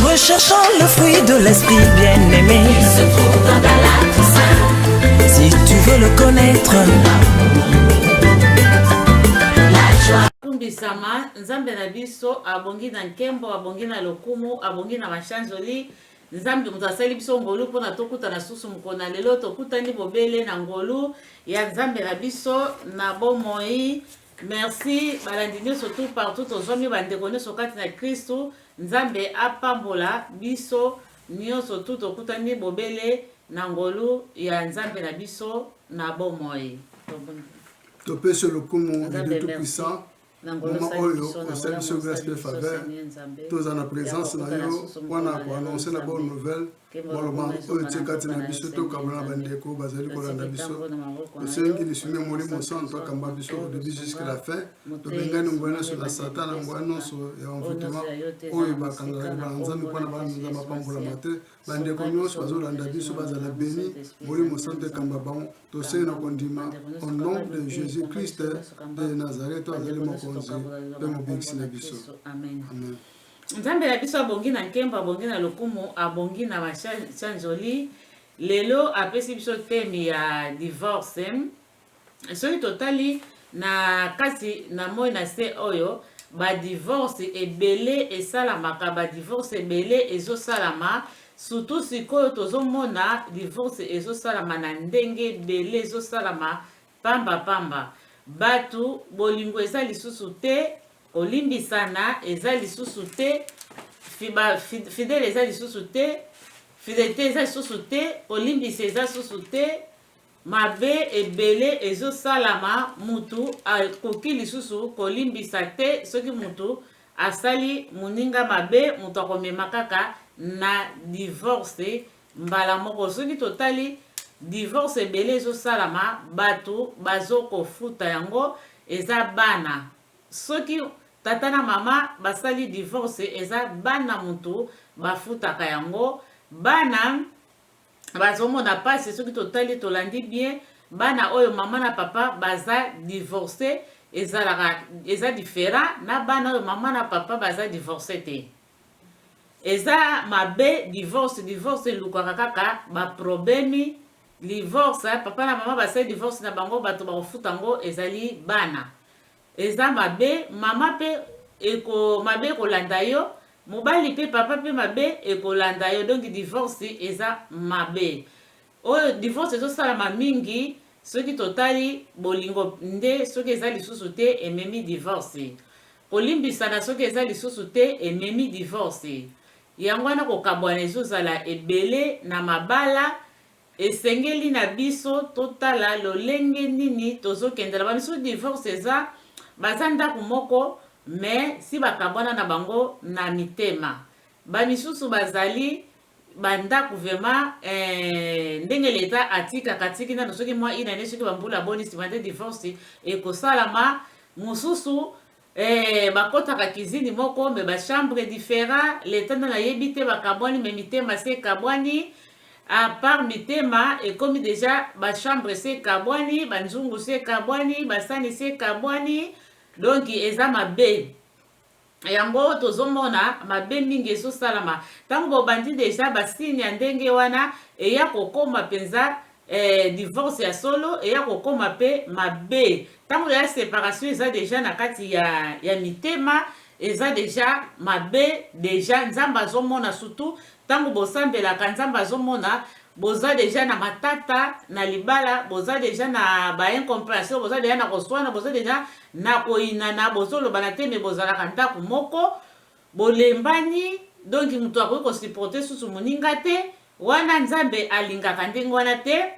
Recherchant le fruit de l'esprit bien-aimé. Il se trouve dans ta latte Si tu veux le connaître. akumbisama nzambe na biso abongi na nkembo abongi na lokumu abongi na mashanzoli nzambe moto asali biso ngolu mpona tokutana susu mokolo na lelo tokutani bobele na ngolu ya nzambe na biso na bomoi Merci balandi nyoso tout partout tozwami bandeko nyoso kati na Kristu Nzambe apambola biso nyoso tout tokutani bobele na ngolu ya Nzambe na biso na bomoi topesi yo lokumu lidu tout puissant moma oyo osali biso grace mpe faveur toza na présence na yo mpona koannonce na bonne nouvelle maloba oyo etie kati na biso tokabola na bandeko bazali kolanda biso tosengi lisumi ya molimo santu akamba biso odebi jusque la fin tobengani ngwa nyonso na satana ngwa nyonso ya envoutema oyo bakangalaki banzambe mpo na banza bapambolama te bandeko nyonso bazolanda biso bazala beni molimo santu ekamba bango tosengi na kondima au nom de jésus christ de nazareth azali mokonzi mpe mobikisi na biso amen Nzambe na biso abongi na nkembo, abongi na lokumu, abongi na masanjoli. Lelo apesi biso teme ya divorce. Soki totali na kati na moi na se oyo, badivorce ebele esalamaka, badivorce ebele ezosalama. Surtout sikoyo tozomona divorce ezosalama na ndenge ebele, ezosalama Pamba pamba. Batu, bolingo eza lisusu te, kolimbisana eza lisusu te, ba fidele eza lisusu te, fidelite eza lisusu te, kolimbisa eza lisusu te, mabe ebele ezosalama, mutu akoki lisusu kolimbisa te, soki mutu asali moninga mabe, mutu akomema kaka na divorce mbala moko soki totali divorce ebele ezosalama batu bazokofuta yango eza bana soki tata na mama basali divorce eza bana mutu bafutaka yango bana bazomona pasi soki totali tolandi bien bana oyo mama na papa baza divorce ezalaka eza diferent na bana oyo mama na papa baza divorce te Eza mabe divorce divorce elukaka kaka ba problemi livorce papa na mama basali divorce na bango bato bakofuta yango ezali bana eza mabe mama pe eko mabe ekolanda yo mobali pe papa pe mabe ekolanda yo donki divorce eza mabe Oyo divorce ezo salama mingi soki totali bolingo nde soki eza lisusu te ememi divorce kolimbisana soki eza lisusu te ememi divorce yango wana kokabwana ezo zala ebele na mabala esengeli na biso totala lolenge nini tozo kendela ba misusu divorce eza baza ndaku moko mais si bakabwana na bango na mitema ba misusu bazali ba ndaku vraiment eh, ndenge leta atikaka atiki nano soki mwa ina ne soki bambula boni nsima nde divorce ekosalama mosusu eh, bakotaka kizini moko me bachambre different leta nde nayebi te bakabwani me mitema se ekabwani apart mitema ekomi deja bachambre se ekabwani banzungu se ekabwani basani se ekabwani donk eza mabe Yango tozo mona mabe mingi ezo salama tangu bo bandi dejà ba signe ya ndenge wana eya ko koma penza eh, divorce ya solo eya ko koma pe mabe tangu ya separation eza dejà na kati ya ya mitema eza dejà mabe dejà nzambe azo mona surtout Tango bosambelaka nzambe azomona boza deja na matata na libala boza deja na ba incomprehension boza deja na koswana boza deja na koyinana bozolobana te me bozalaka ndako moko bolembani donki moto akoki kosiporte susu moninga te wana nzambe alingaka ndenge wana te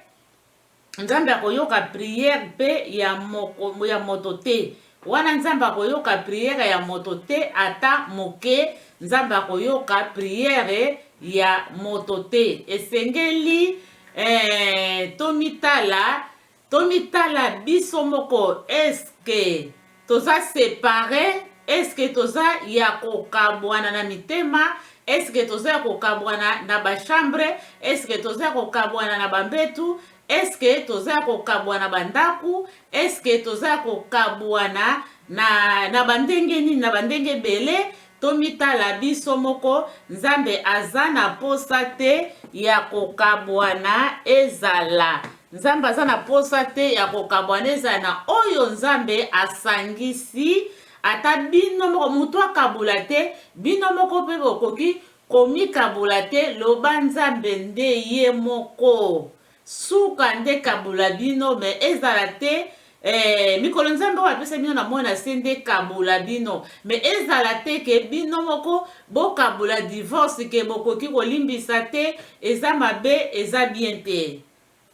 Nzambe akoyoka prière pe ya moko ya moto te wana nzambe akoyoka prière ya moto te ata moke nzambe akoyoka prière ya moto te esengeli eh, tomitala tomitala biso moko eske Toza separe eske toza ya kokabuana na mitema eske toza ya kokabuana na ba chambre eske toza ya kokabuana na ba mbetu eske toza ya kokabuana ba ndaku eske toza ya kokabuana na na ba ndenge nini na ba ndenge ebele Tomitala biso moko, Nzambe aza na posa te ya kokabwana ezala. Nzambe aza na posa te ya kokabwana ezala na oyo Nzambe asangisi. Ata bino moko moto akabola te, bino moko mpe bokoki komikabola te, loba Nzambe nde ye moko. Suka nde kabola bino mais ezala te eh, mikolo nzambe oyo apesa bino na moi na se nde kabola bino mais ezala te ke bino moko bokabola divorce ke bokoki kolimbisa te eza mabe eza bien te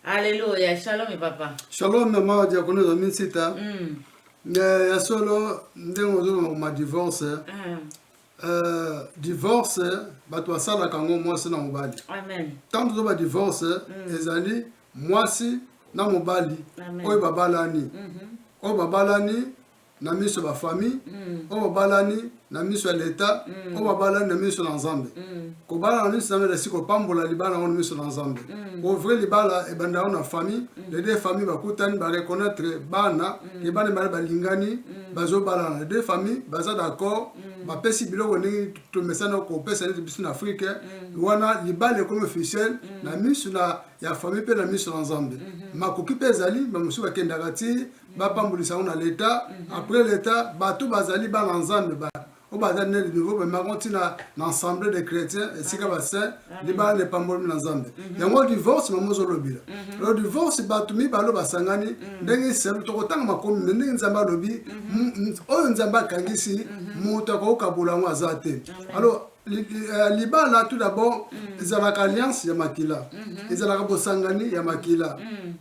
aleluya shalom papa shalom mama diakono na minsita mm. ya solo ndenge ozoloma koma divorce mm. Euh, divorce bato basalaka yango mwasi na mobali ntango tozo badivorce mm. ezali mwasi na mobali oyo babalani mhm. oyo babalani na miso ya bafamille mm. oyo babalani na miso ya leta mm. oyo babalani na miso na nzambe kobala na miso na nzambe elasi kopambola libala yango na miso na nzambe ovre libala ebanda yango na famille les deux famille bakutani bareconnaitre bana ke bana ebale balingani bazobalana les deux famille baza d'accord mm. bapesi biloko ndenge tomesana kopesa neti biso na afrike mm. wana libala ekomi officiel mm. na miso na ya famille mpe na miso na nzambe mm-hmm. makoki mpe ezali bamosusu bakendaka ti mm. bapambolisa yango na leta mm-hmm. après leta bato bazali bana nzambe ba oyo baza ne de nouveau bamako ntina na assemblée de chrétien esika ah. basaint libala epambolami na nzambe mhm. yango divorce mama ozolobela mhm. lo divorce bato mibale basangani mhm. ndenge eselu tokotanga makomi me ndenge nzambe alobi oyo nzambe akangisi moto akokokabola yango aza te alors euh, libala tout d'abord ezalaka alliance ya makila ezalaka bosangani ya makila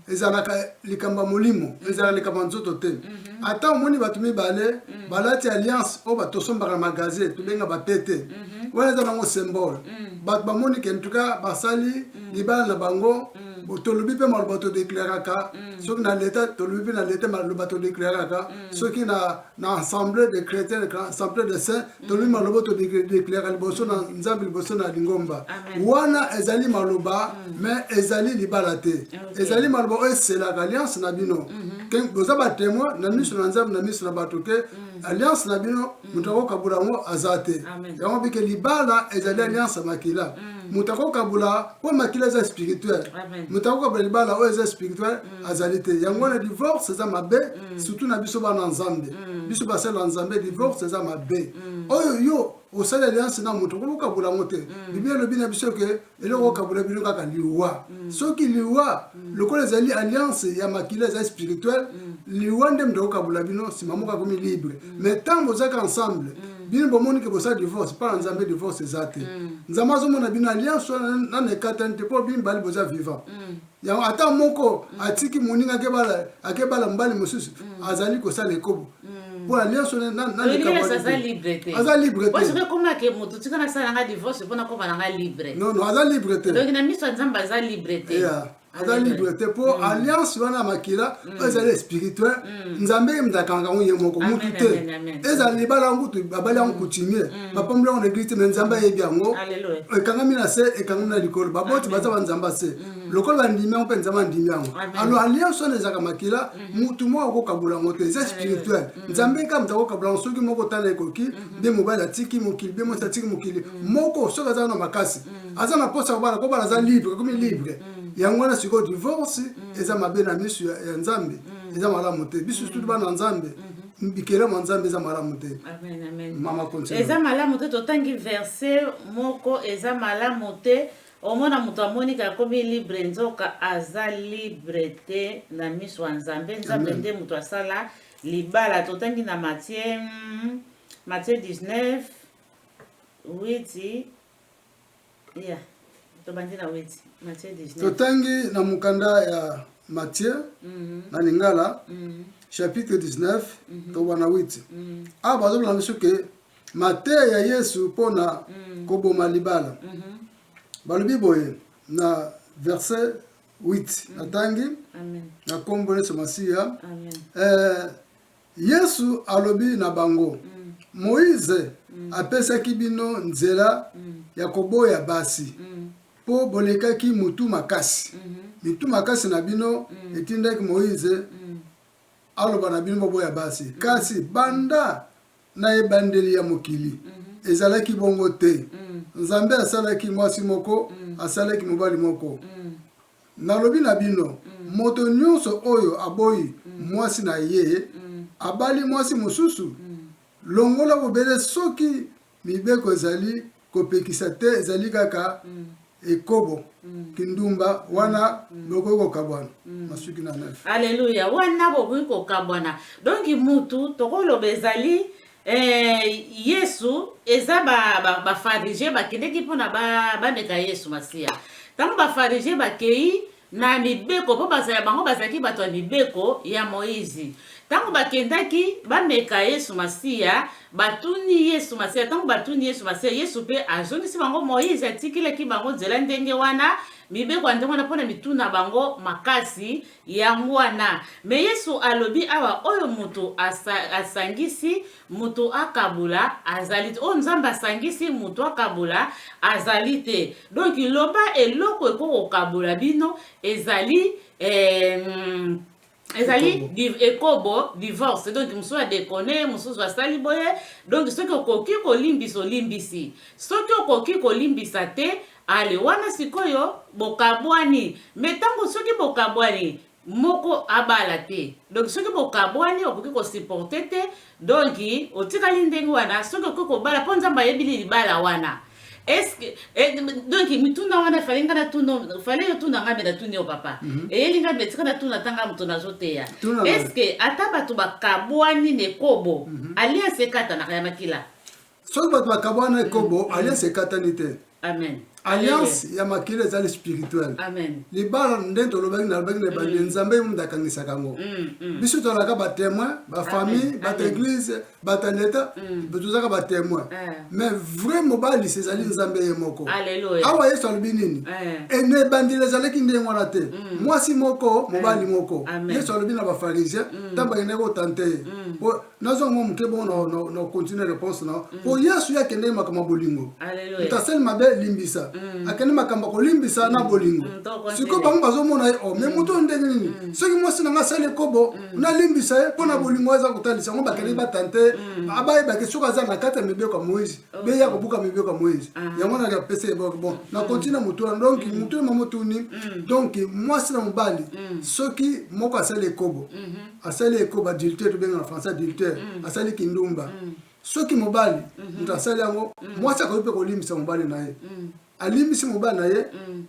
ezalaka likambo ya molimo ezalaka likambo ya nzoto te ata omoni bato mibale balati alliance oyo batosombaka na magasin tobenga bapete mhm. wana eza nango symbole mhm. bato bamoni ke ntuka basali mhm. libala na bango tolobi mpe maloba todeklaraka soki na leta tolobi mpe na leta maloba todeklaraka soki na assemblée de chrétien assemblée de saint tolobi maloba todeklaraka liboso na nzambe liboso na lingomba wana ezali maloba mais ezali libala te ezali maloba oyo eselaka alliance na bino boza batemoin na miso na nzambe na miso na bato ke alliance na bino moto mm. akokabola yango aza te yango bike libala ezali mm. alliance ya makila mm. moto akokabola mpo makila eza spirituel moto akokabola libala oyo eza spirituel azali te yango wana divorce eza mabe surtout na biso bana nzambe biso basali ya nzambe divorce eza mabe oyo yo osali alliance na moto okoki kokabola yango te biblia elobi na biso ke eloko okabola bino kaka liwa mm. soki liwa mm. lokola ezali alliance ya makila ezali spirituel mm. liwa nde moto akokabola bino nsima moko akomi libre mais ntango bozalaka ensemble bino bomoni ke bosala divorce mpo na nzambe divorce eza te nzambe azomona bino alliance wana nana ekatani te mpo bino bali boza vivant yango ata moko mm. atiki moninga akebala mobali mosusu mm. azali kosala ekobo mm. mpo na nyonso aza libre te aza libre te mpo alliance wana ya makila Mm. oyo ezali spirituel mm. nzambe ye moto akangaka yango ye moko mutu te ezala libala yango kutu babali yango coutumier mm. bapamboli yango na eglise te me nzambe ayebi yango ekangami na se ekangami na likolo baboti baza banzambe se lokola bandimi yango mpe nzambe andimi yango alo alliance wana ezalaka makila mm-hmm. mutu moko akokabola yango te eza spirituel nzambe nka moto akokabola yango soki moko tala ekoki nde mm-hmm. mobali atiki mokili be mwasi atiki mokili moko soki aza na makasi aza na mposa kobala kobala aza libre akomi libre yango wana sikoyo divorce eza mabe na miso ya nzambe eza malamu te biso tutu bana nzambe bikelamo ya nzambe eza malamu te mama continue eza malamu te totangi verse moko eza malamu te omona moto amoniki akomi libre nzoka aza libre te na miso ya nzambe nzambe nde moto asala libala totangi na matie matie 19 witi totangi na mokanda ya matie mhm. na lingala mhm. chapitre 19 mhm. tokoba na 8 awa bazoloba biso ke mateya ya yesu mpo na koboma libala balobi boye na verset 8 natangi na nkombo yesu masiya Yesu alobi na bango, Moize apesaki bino nzela ya koboya basi, po bolekaki motu makasi. Mitu makasi na bino etindaki Moize aloba na bino boboya basi. Kasi banda na ebandeli ya mokili, ezalaki bongo te. Nzambe asalaki mwasi moko, asalaki mobali moko. Nalobi na bino, moto nyonso oyo aboyi mwasi na ye, abali mwasi mosusu, longola bobele soki mibeko ezali kopekisa te, ezali kaka ekobo, kindumba, wana bokoki kokabwana. Masuki na 9. Alleluia! Wana bokoki kokabwana. Donc, mutu, tokoloba, ezali Eh, Yesu eza ba ba, ba farisien bakendeki mpona bameka Yesu Masiya. Ntango ba farisien bakei na mibeko, mpo bazala bango bazalaki bato ya mibeko ya Moizi. Ntango bakendaki bameka Yesu Masiya, batuni Yesu Masiya. Ntango batuni Yesu Masiya, Yesu mpe azongisi bango, Moizi atikelaki bango nzela ndenge wana, mibeko ya ndenge wana, mpo na mituna bango makasi Yango wana, mais Yesu alobi awa oyo moto asangisi, moto akabola azali te. Oyo Nzambe asangisi, moto akabola azali te. Donc loba eloko eko kokabola bino ezali eh, ezali ekobo divorce donc mosusu adekone mosusu asali boye donc soki okoki kolimbisa olimbisi soki okoki kolimbisa te Allez wana sikoyo bokabwani mais tango soki bokabwani moko abala te donc soki bokabwani okoki ko supporter te donc otikali ndenge wana soki okoki kobala mpo nzambe ayebi libala wana eske eh, donc mituna wana fale nga natuna fale yo tuna ngai me natuni yo papa mm -hmm. eyeli ngai metika natuna tanga moto nazoteya eske ata bato bakabwani nekobo mm -hmm. alianse ekatanaka ya makila soki bato bakabwana ekobo mm. alliance ekatani te amen alliance ya makila ezali spirituel libala nde tolobaki nalobaki na ebandi mm. nzambe mundi akangisaka yango mm, mm. biso tozalaka batémoin bafamille bato église bato ya leta tozalaka batémoin eh. mais vrai mobalisi ezali nzambe ye moko awa yesu alobi nini eh. na ebandeli ezalaki ndenge wana te mwasi moko mobali eh. moko yesu alobi na bafarisien ntango bakendaki kotante ye nazwa mwa moke bongo na continue réponse na mpo mm. yesu ye akendeki makambo ya bolingo moto asali mabe limbisa mm. akende makambo ya kolimbisa na mm. bolingo sikoyo bango bazomona ye o oh, me moto oyo ndenge nini soki mwasi na ngai asali ekobo nalimbisa ye mpo na bolingo aza kotalisa yango bakendeki batante abayebaki soki aza na kati ya mibeko ya moise oh. beya kobuka mibeko ya moise ah. yango naki apesa ye bon na continue moto wana donk moto oyo mamotuni donk mwasi na mobali soki moko asali ekobo mm-hmm. asali ekoba adultère tobengaka na français adultère mm. asali kindumba mm. soki mobali mm -hmm. moto asali yango mm. mwasi akoki mpe kolimbisa mobali na ye mm. alimbisi mobali na ye mm.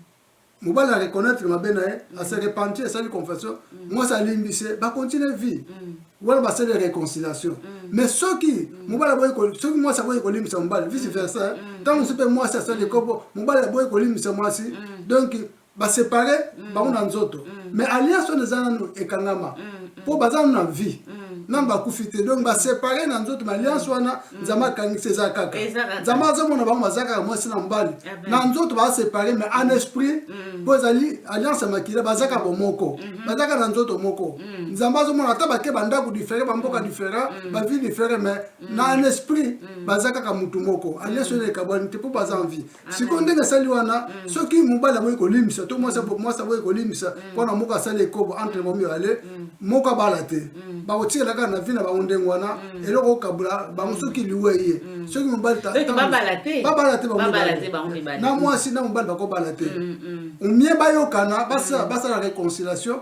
mobali na reconnaître mabe na ye mm. ase repentir asali confession mm. mwasi alimbisi ye bacontinue vie mm. wana basali réconciliation mm. mais soki mm. mobali aboyi soki mwasi aboyi kolimbisa mobali vice versa ntango mm. mosusu mpe mwasi asali ekobo mobali aboyi kolimbisa mwasi mm. donc ba separe mm. bango na nzoto mm. mais alliance wana eza nanu ekangama mm. mm. po baza nanu na vie mm. nanu bakufi te donc basepare na nzoto ma alliance wana nzambe akangisi eza kaka nzambe azomona bango baza kaka mwasi na mobali ah na nzoto basepare mais en esprit mm. mpo ezali alliance ya makila baza kaka bomoko mm-hmm. baza kaka na nzoto moko mm. nzambe azomona ata bake bandako difere bamboka mm. difere bavie difere mais na en esprit baza kaka motu moko alliance wana ekabwani te mpo baza en vie sikoyo ndenge asali wana mm. soki mobali aboyi kolimbisa to mwasi mm. aboyi kolimbisa mm. mpo na moko asali ekobo entre bango mibale moko abala te bakotikela kaka na vi na bango ndenge wana eloko okabula bango soki liwa eye soki mobali babala te na mwasi na mobali bakobala te omie bayokana basala réconciliation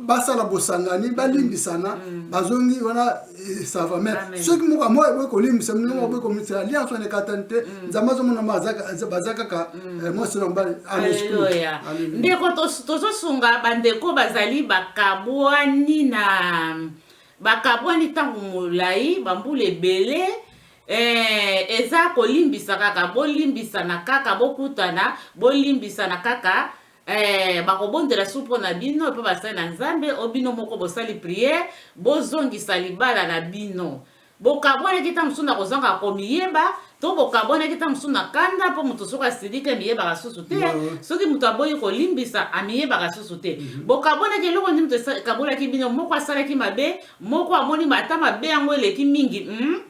basala bosangani balimbisana bazongi wana eh, ça va mais soki moko moko eboyi kolimbisa mino moko eboyi komimbisa alliance wana ekatani te nzambe azomona baza kaka mwasi na mobali aleluya ndeko tozosunga bandeko bazali bakabwani na bakabwani ntango molai bambula ebele eh, eza kolimbisa kaka bolimbisana kaka bokutana bolimbisana kaka Eh, bakobondela su mpo na bino mpe basali na nzambe o bino moko bosali priere bozongisa libala na bino bokabwanaki ntango mosusu na kozanga komiyeba to bokabwanaki ntango mosusu na kanda mpo moto soki asiliki amiyebaka susu te soki moto aboyi kolimbisa amiyebaka susu te mhm. bokabwanaki eloko nini moto ekabolaki bino moko asalaki mabe moko amoni ata mabe yango eleki mingi hmm?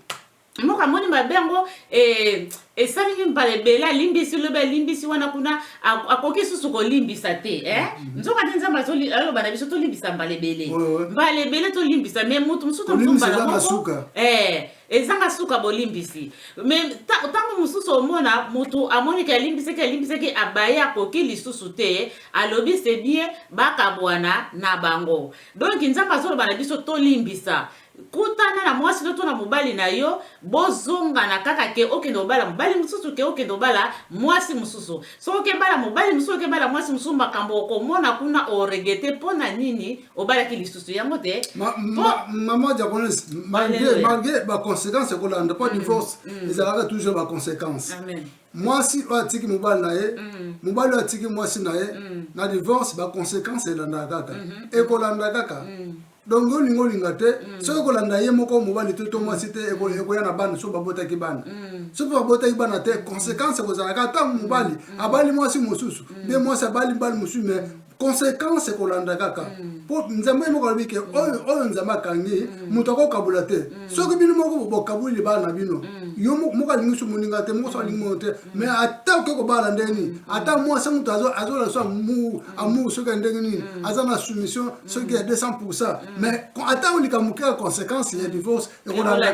moko amoni mabe yango eh, esalemi mbala ebele alimbisi lobi alimbisi wana kuna akoki susu kolimbisa te eh? mm -hmm. nzoka nde nzambe aloba na biso tolimbisa mbala ebele mbala ebele tolimbisa me motu mosusu tombala moko eh, ezanga suka bolimbisi me ntango mosusu omona motu amoniki alimbisaki alimbisaki abaye akoki lisusu te alobi se bien bakabwana na bango donk nzambe azoloba na biso tolimbisa kutana na mwasi no to na mobali na yo bozongana kaka ke okende obala mobali mosusu ke okende obala mwasi mosusu soki okebala mobali mosusu okebala mwasi mosusu makambo okomona kuna oregete mpo na nini obalaki lisusu yango te mama japonaise malgre baconséquence ekolanda mpo mm, divorce mm. ezalaka toujours baconséquence mwasi oyo atiki mobali na ye mm. mobali oyo atiki mwasi na ye na divorce baconséquence elandaka kaka mm-hmm. ekolanda kaka donc yo olingi olinga te mm. soki okolanda ye moko mobali te to mwasi te mm. ekoya na bana soki babotaki bana mm. soki babotaki bana te conséquence ekozalaka ata mobali abali mwasi mosusu nde mwasi abali mbali mosusu me conséquence ekolanda kaka mpo nzambe ye moko alobi ke oyo nzambe akangi moto akokabola te soki bino moko bokaboli bana bino yo moko alingi so moninga te moko so alingi mono te mais ata oke kobala ndenge nini ata mwasi moto azolakisa amour soki ya ndenge nini aza na soumission soki ya 200 pourcent mais ata olika moke ya conséquence ya divorce ekolanda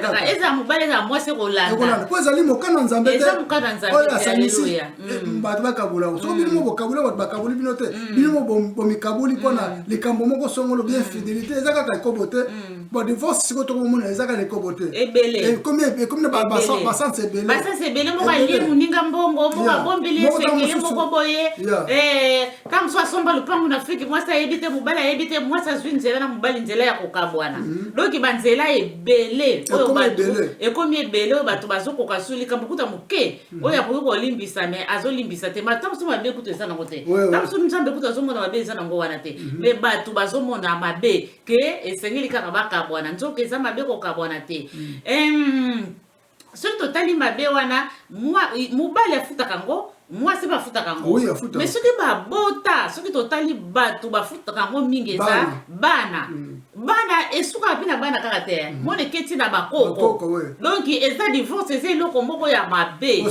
po ezali mokana nzambe te oyo asangisi eh, mm. bato bakabola soki mm. bino mo bokabola bato bakaboli bino te mm. bino mo bomikaboli mpona likambo moko songolo bien fidelité eza kaka ekobo te bon divorce sikoyo tokomona eza kaka likobo te ekomi na basanse ebele basanse ebele moko alie moninga mbongo moko abombeli ye sekele moko boye ka mosusu asomba lopango na afrike mwasi ayebi te mobali ayebi te mwasi azwi nzela na mobali nzela ya kokabwana mhm. donki banzela ebele oyo bato ekomi ebele oyo bato bazokoka su likambo kuta moke mhm. oyo akoki kolimbisa me azolimbisa te mata mosusu mabe kutu eza nango te ta mosusu nzambe kutu azomona mabe eza nango wana te me mhm. bato bazomona mabe que esengeli kaka bakabwana nzoka eza mabe kokabwana te mm. soki totali mabe wana mobali afutaka yango mwasi bafutaka yango me soki babota soki totali bato bafutaka yango mingi eza bana mm. bana esukaka mpe na bana kaka te mm. mona eketi na bakoko donk eza divorce eza eloko moko ya mabe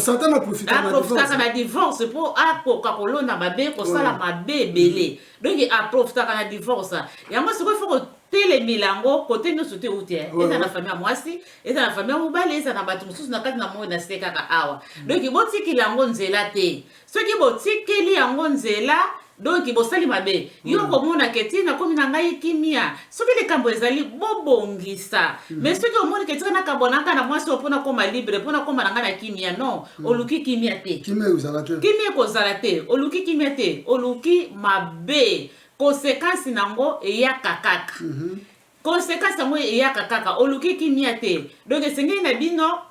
aprofitaka na divorce mpo akoka kolona mabe kosala mabe ebele donc aprofitaka na divorce yango sikoyo fo kotelemela yango kote nyonso te euti eh. eza na famille ya mwasi eza na famille ya mobali eza na bato mosusu na kati na moi na se kaka awa mm. donki botikeli yango nzela te soki botikeli yango nzela donki bosali mabe yo mm. okomona ke ti nakomi na ngai kimia soki likambo ezali bobongisa mm. mais soki omoni ke tika nakabwana kaka na mwasi oyo mpo nakoma libre mpo nakoma na ngai na kimia non mm. oluki kimia te kimia ekozala te oluki kimia te oluki mabe konsekansi na yango eyaka kaka mm -hmm. konsekansi yango eyaka kaka oluki kimia te donc esengeli na bino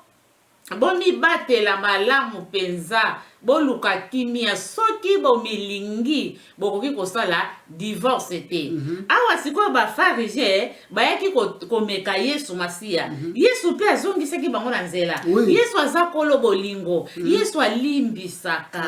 Bomibatela malamu mpenza, boluka kimia. Soki bomilingi, bokoki kosala divorce te. Mm -hmm. Awa sikoyo Bafarije bayaki ko, komeka Yesu Masiya. Mm -hmm. Yesu mpe azongisaki bango na nzela. Oui. Yesu aza kolo bolingo. Mm -hmm. Yesu alimbisaka,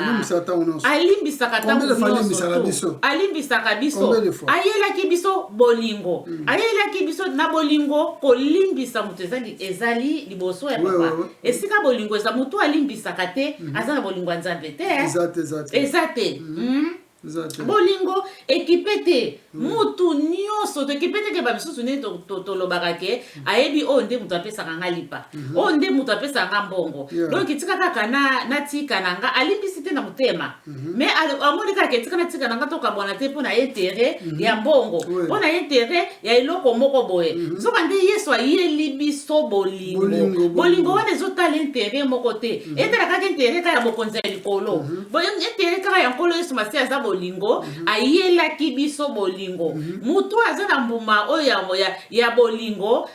alimbisaka ntango nyonso, alimbisaka biso, ayelaki biso bolingo. Mm -hmm. Ayelaki biso na bolingo kolimbisa moto ezali, ezali liboso ya papa ouais, ouais. esika bolingo eza moto alimbisaka te mm -hmm. aza na bolingo ya nzambe te eza te mm -hmm. mm -hmm. bolingo ekipe te mm. mutu nyonso toekipe te ke bamisusu nini tolobaka ke mm. ayebi oyo oh, nde moto apesaka nga lipa oyo mm-hmm. oh, nde moto apesaka nga mbongo yeah. donk tika kaka natika na nga alimbisi te na motema Mhm. mais amoni kaka etika na tika nanga tokabwana te mpo na intere mhm. ya mbongo mpo na intere ya eloko moko boye mhm. nzoka nde yesu ayeli biso bolingo bolingo wana ezotala intere moko te etala kaka intere kaka ya bokonzi ya likolo intere kaka ya nkolo yesu masi aza bolingo ayelaki biso bolingo moto aza na mbuma oyo ya bolingo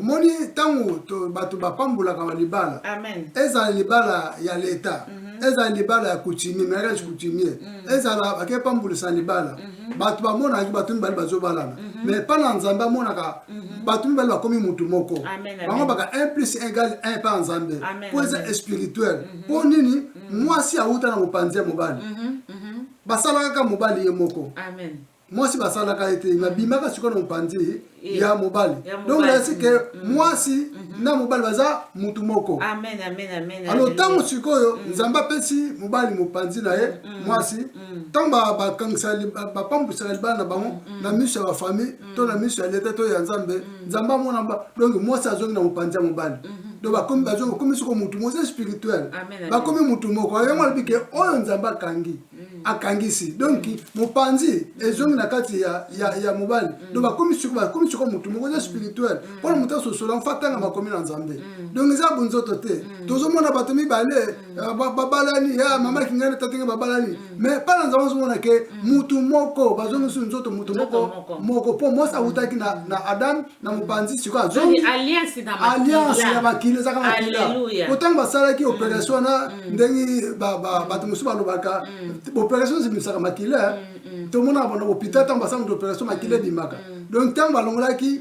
omoni ntango bato bapambolaka balibala ezala libala ya leta mhm. ezala libala ya coutumier mariage mhm. coutumier mhm. ezala bake pambolisa libala bato bamonaki bato mibale bazobalana mais epai na nzambe amonaka bato mibale bakomi motu moko bango baka 1 plus 1 egal 1 epai ya nzambe mpo eza espirituel mpo nini mwasi awuta na mopanzi ya mobali basalaka kaka mobali ye moko mwasi basalaka ete mm. babimaka sikoyo na mopanzi eh, ya mobali donc nayasi ke mm, mm. mwasi mm-hmm. na mobali baza mutu moko alo ntango sikoyo nzambe apesi mobali mopanzi na ye mwasi ntango bakangisa bapambwisaka libala na bango na miso ya bafamille to na miso ya leta to ya nzambe nzambe amona donc mwasi azongi na mopanzi ya mobali mm-hmm. donc bakomi bakomi soko mutu moza spirituel bakomi mutu moko yango alobi ke oyo nzambe akangi Mm. akangisi donc mm. mopanzi ezongi na kati ya, ya, ya mobali mm. donc bakomi siko motu moko eza spirituel mpona moto asosola mfa ntanga makomi na nzambe donc eza bonzoto te tozomona bato mibale eh, babalani ya ah, mama kingani tatenge babalani mais mpa na nzambe azomona ke motu moko bazongisi nzoto motu moko moko mpo mwasi awutaki na, na adam na mopanzi sikoyo azongi alliance na makila ezaka makila po ntango basalaki mm. operation wana mm. ndenge bato mosusu balobaka mm. operation ebimisaka makila tomonaka bana hôpital ntango basalaki operation makila ebimaka donc ntango balongolaki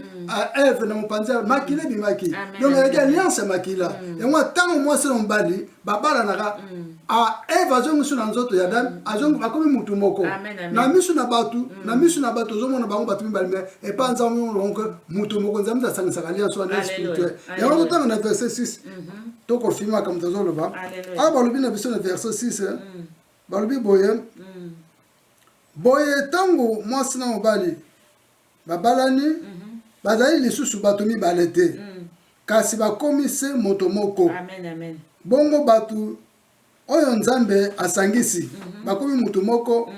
eve na mopanzi makila ebimaki donc ezalaki alliance ya makila yango ntango mwasi na mobali babalanaka eve azongisu na nzoto ya dame mm. akomi mutu moko na misu na bato mm. na misu na bato ozomona bango bato mibali me epa nzambe monoko moto moko nzambe asangisaka alliance wana spirituel yango totanga na verset 6 mhm. tokofimaka moto azoloba awa balobi na biso na verset 6 eh. mm. balobi boye boye ntango mwasi na mobali Babalani bazali lisusu bato mibale te, kasi bakomi se moto moko. Bongo bato oyo Nzambe asangisi bakomi moto moko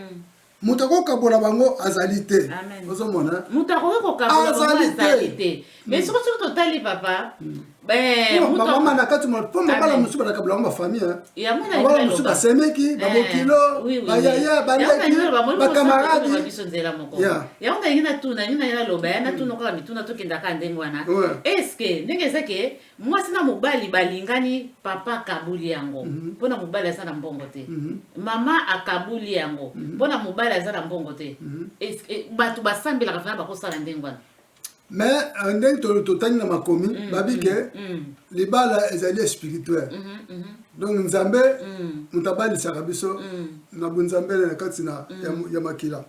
moto akokabola bango azali te ozomona moto akoki kokabola bango azali te mais soki soki totali papa bamama na kati mpo mabala mosusu balakabula yango bafamille mabala mosusu basemeki babokilo bayaya baleki bakamaradi yango nalingi natuna nini naye naloba ya natuna kaka mituna tokendaka ndenge wana eske ndenge eza ke mwasi na mobali balingani papa akabuli yango mpo na mobali aza na mbongo te mama akabuli yango mpo na mobali aza na mbongo te bato basambelaka fana bakosala ndenge wana mais euh, ndenge totangi na makomi mm, babi ke mm, mm. libala ezali ya spirituel mm-hmm, mm-hmm. donc nzambe moto abalisaka biso na bonzambele na kati na ya makila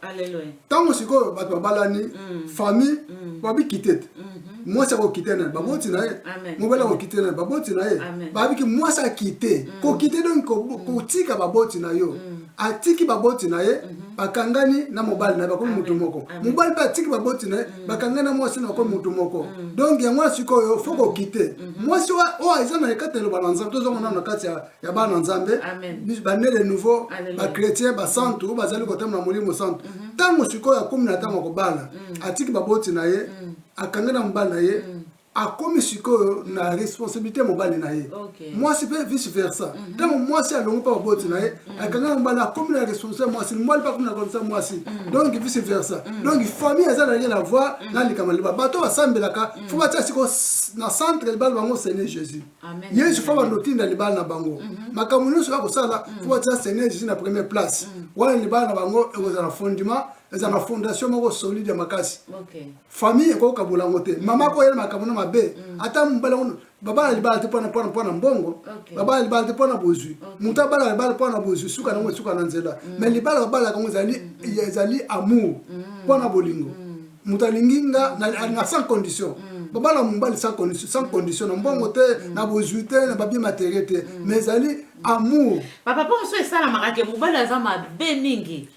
ntango sikoyo bato babalani famille babikite te mm-hmm. mwasi akokite na ye baboti na ye mobali akokite na ye baboti na ye babiki mwasi akite kokite donc kotika baboti na yo atiki baboti na ye mhm. bakangani na mobali na ye bakomi motu moko mobali mpe atiki baboti na ye mhm. bakangani na mwasi na bakomi motu moko mhm. donk yango ya sikoyo fo kokite mwasi oyo aza na ekati ya eloba na nzambe tozongo nano na kati ya bana nzambe bane de nouveau bachrétien basantu oyo bazali kotama na molimo santu ntango sikoyo akomi na ntango ya kobala atiki baboti na ye akangani na mobali na ye akomi sikoyo na responsabilité ya mobali na ye okay. mwasi mpe vice versa mhm. ntango mm -hmm. mwasi alongi mpe baboti na ye mm -hmm. akanga mobali akomi na responsabilité ya mwasi mobali mpe akomi na responsabilité ya mwasi mm -hmm. donc vice versa mm -hmm. donc famille eza na rien à voir mm -hmm. na likambo liba bato basambelaka mm -hmm. fo batia sikoyo na centre libala bango seigneur jésus yesu fo bandotinda libala na bango mm -hmm. makambo nyonso ya kosala mm -hmm. fo batia seigneur jésus na première place mm -hmm. wana libala na bango ekozala fondement eza na fondation moko solide ya makasi okay. famille ekoki kabola yango te mama ako yela makambo na mabe mm. ata mobali yango babala libala te mpona mpona mpona mbongo babala libala te mpona bozwi moto abala libala mpona bozwi suka nango esuka na nzela mm. mais libala babalaka yango ezali mm. ezali amour mpona bolingo moto alingi nga na sans condition babala mobali sans condition sans condition na mbongo te na bozwi te na babie materie te mais ezali amour papa mpo mosusu esalamaka ke mobali aza mabe mingi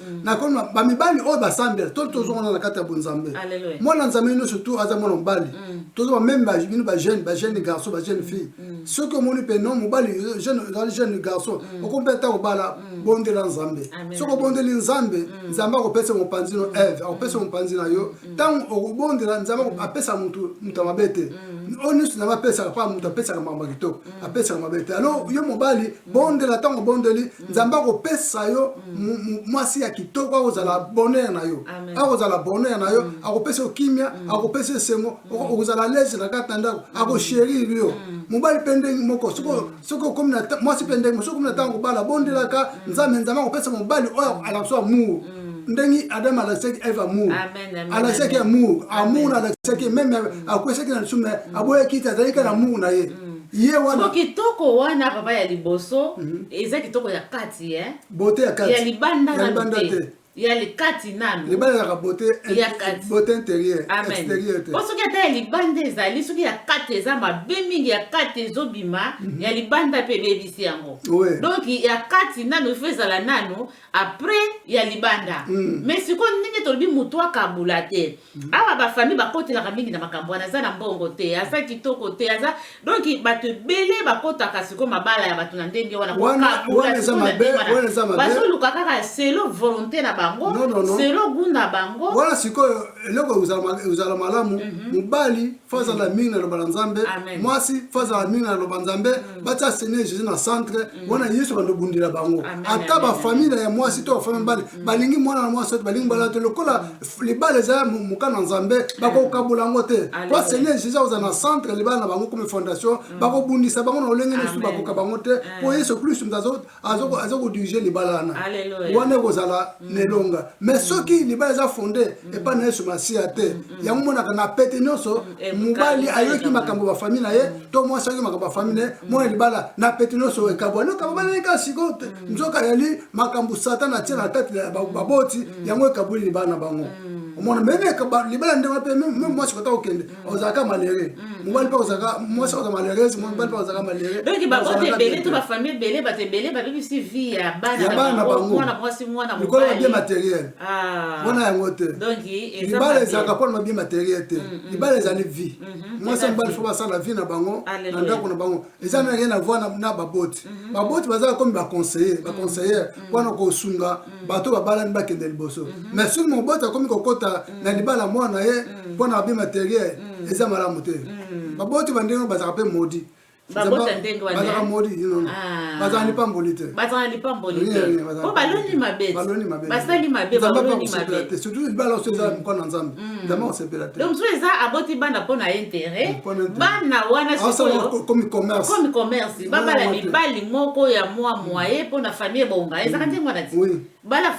mm. nakonwa bamibali oyo basambela to tozongana na kati ya bonzambe mwana nzambe nyonso tu aza mwana mobali mm. tozoba meme bino bajeune bajeune garçon bajeune fille mm. soki omoni mpe no mobali ozali jeune garçon okomi mpe ata kobala bondela nzambe soki obondeli nzambe nzambe akopesa mopanzi no eve akopesa mopanzi na yo ntango okobondela nzambe apesa motu moto ya mabe te oyo nyonso nzambe apesaka mpa moto apesaka makambo ya kitoko apesaka mabe te alo yo mobali bondela ntango obondeli nzambe akopesa yo mwasi ya kitoko akozala bonheur na yo akozala bonheur na yo akopesa yo kimia akopesa esengo okozala lese na kati na ndako akosherire yo mobali mpe ndenge moko soki okomi na mwasi mpe ndenge soki okomi na ntango kobala bondelaka nzambe nzambe akopesa mobali oyo alakisa amour ndenge adam alakisaki eve amour alakisaki amour amour alakisaki meme akwesaki na lisumu aboyaki te azalaki na amour na ye ye wana soko kitoko wana papa ya liboso mm -hmm. eza kitoko ya kati eh? bote ya kati ya libanda ya libanda te ya likati nanu libalelaka bote ya kati bote interieur exterieur te po soki ata ya libanda ezali soki ya kati eza mabe mingi ya kati ezobima mm -hmm. ya libanda mpe ebebisi yango oui. donc ya kati nanu ifo ezala nanu après ya libanda mm. mais sikoyo ndenge tolobi moto akabula te mm. awa bafamille bakotelaka mingi na makambo wana aza na mbongo te aza kitoko te aza donc bato ebele bakotaka sikoyo mabala ya bato na ndenge wana bazoluka kaka selo volonté na bango no, no, no. selo gu na bango wana sikoyo eloko ezala malamu mhm. mobali mm -hmm. fazala mingi na loba na nzambe mwasi fazala mingi na loba nzambe batia seigneur jésus na centre mm. wana yesu bando bundela bango ata bafamile ya mwasi to bafamile mobali mm. balingi mwana na mwasi ote balingi mobali te lokola mm. libala eza moka na nzambe bakokabola yango te po seigneur jésus akoza na centre libala na bango comme fondation bakobundisa bango na lolenge nyonso bakoka bango te po yesu kristu moto aza kodirige libala wana wana ekozala mm. na elonga mais mm. soki libala eza fonde mm. epai na yesu masiya te yango monaka na pete nyonso eh, mobali ayoki makambo bafamille na ye to mwasi ayoki makambo bafamille na ye mwana libala na pete nyonso ekabwani okababalani kaka sikoyo te nzoka yali makambo satana atie na kati ya baboti yango ekabweli libala na bango omona meme libala ndenge wape meme mwasi kota kokende ozalaka malere mm. mobali mpe ozalaka mwasi oza malerese mobali mpe ozalaka malere donc baoto ebele to bafamille ebele bato ebele babebisi vie ya bana na bangomwana mwasi mwana likolo na bien matériel ah. wana yango te libala ezalaka mpona mabie matériel te mm, mm. libala ezali vie mwasi ya mobali fo basala vie na bango na ndako na bango eza na rien à voir na baboti mhm. baboti bazala komi baconseiller mhm. baconseillere mhm. mpona kosunga bato babalani bakende liboso mais soki moboti akomi kokota na libala mwana ye mpona abi materiel eza malamu te baboti bandenge bazalaka mpe modi babota ndenge wanabazalaka modi ah. bazalaka lipamboli te bazalaka lipamboli te po baloni mabe basali mabe baloni mabe surtout libala oso eza mokona nzambe Mm. nzambe akosepela te donc soki eza aboti bana mpo na intérêt bana wana sikoyokomi commerce babala mibali moko ya mwa moye mpo na famille ebonga mm. ezaka ndenge wana ti bala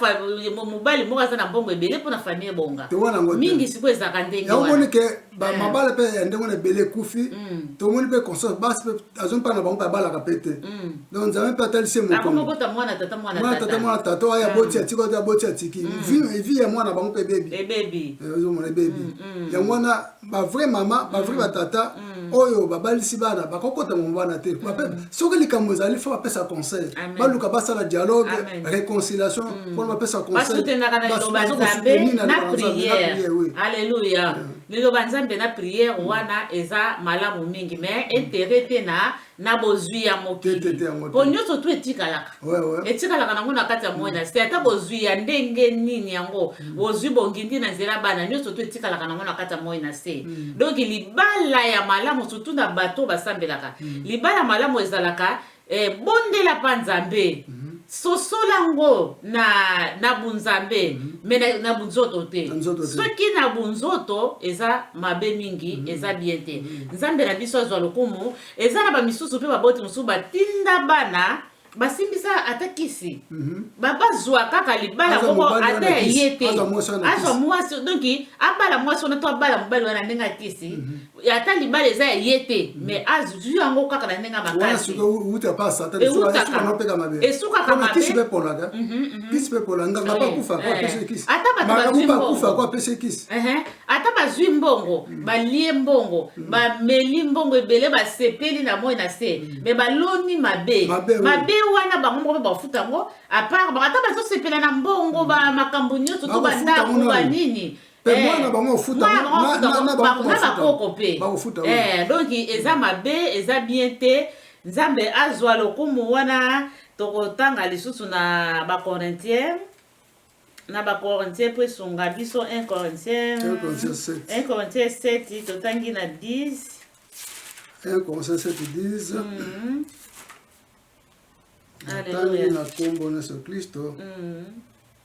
mobali moko aza na mbongo ebele mpo na famille ebonga mingi sikoyo ezalaka ndenge yango omoni ke mm. mabala mpe ya ndenge wana ebele ekufi tomoni mpe conscience basi mpe azo mpa na bango mpe abalaka mpe te mm. donc nzambe mpe atalisi ye mokomwana mwana tata mwana tata oyo aboti mm. atiki oyo aboti atiki mm. vi ya mwana bango mpe ebebi ebebi eh, ozomona ebebi yango wana bavrai mama bavrai batata oyo babalisi bana bakokota mama bana te soki likambo ezali fo bapesa conseil baluka basala dialogue réconciliation mpona bapesa conseil Liloba Nzambe na prière wana eza malamu mingi mais intérêt te na na bozwi ya mokili po nyonso tu etikalaka etikalaka nango na kati ya moi na se ata bozwi ya ndenge nini yango mm. bozwi bongindi na nzela bana nyonso tu etikalaka nango na kati ya moi na se mm. donc libala ya malamu surtout na bato basambelaka mm. libala malamu ezalaka Eh, bondela pa nzambe mhm. sosola ngo na, na bunzambe mhm. me na, na bunzoto te soki na bunzoto eza mabe mingi mhm. eza bien te nzambe na biso azwa lokumu eza na bamisusu mpe baboti mosusu batinda bana basimbisa ata kisi mhm. bazwa kaka libala moko ata ya ye te azwa mwasi donki abala mwasi wana to abala mobali wana ndenge ya kisi mhm. ata libala eza ya ye te mais azwi yango kaka na ndenge ya makasiesukaka mabekisi mpe polaka kisi mpe pola nganga bakufa ko apesi kisi ata bakufa ko apesi kisi ata bazwi mbongo balie mbongo bameli mbongo ebele basepeli na moi na se mais baloni mabe mabe wana bango moko mpe bafuta yango apart bango ata bazosepela na mbongo bamakambo nyonso to bandako banini Eh, mwana na bango ofuta bakoko mpe eh, donc eza mabe eza bien te nzambe azwa lokumu wana tokotanga lisusu na bacorintien na bacorintien mpo esunga biso 1 corintien 1 corintien 7 totangi na 10 1 corintien 7 10 natangi na nkombo na yesu kristo mm -hmm.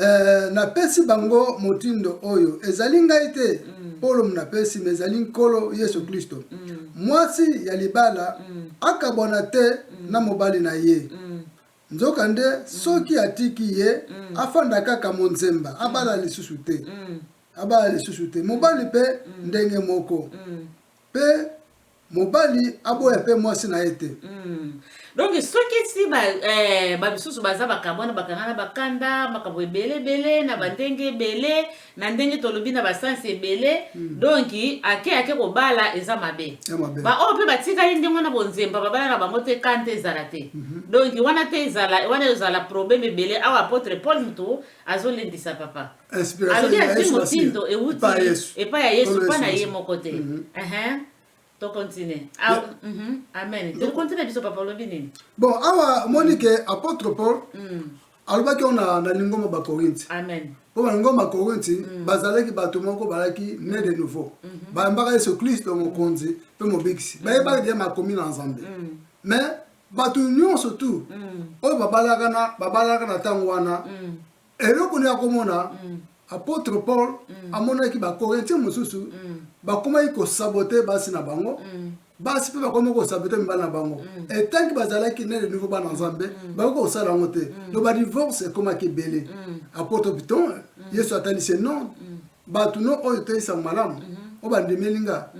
Ee, napesi bango motindo oyo, ezali ngai te, Polo monapesi, me ezali Nkolo Yesu Klisto. Mwasi ya libala akabwana te na mobali na ye, nzokande soki atiki ye, afanda kaka monzemba, abala lisusu te. Abala lisusu te. Mobali mpe ndenge moko. Pe mobali aboya pe mwasi na ye te. Hum. Donc soki si ba eh, ba misusu baza bakabwana bakanga na bakanda makambo ebele ebele na bandenge ebele na ndenge tolobi na basansi ebele mm. donc ake ake kobala eza mabe baoyo mpe batikali ndenge wana bonzemba babala na bango te kante ezala te mm -hmm. donc wana mpe ezala wana ezala problème ebele awa apotre paul moto azolendisa papa alobi azwi motindo euti epai ya yesu mpa na ye moko te mhm. tokontinue ah, mhm. amen tokontinue biso papa olobi nini bon awa omoni ke apôtre paul mm. alobaki oyo na lingomba bakorinti mpo balingomba bakorinti mm. bazalaki bato moko balaki ne de nouveau mhm. bayambaka yesu klisto mokonzi mpe mobikisi mm. bayebaki deya makomi na nzambe mais bato nyonso tu oyo babalaka na ntango wana Eloko nini akomona? Apotre Paul amonaki Bakorintien mosusu bakomaki kosabote basi na bango basi mpe bakomi kosabote mibali na bango etanki bazalaki na de nouveau bana nzambe bakoki kosala yango te to badivorce ekomaki ebele apotre piton yesu atalisi non bato no oyo toyisa malamu oyo bandimeli nga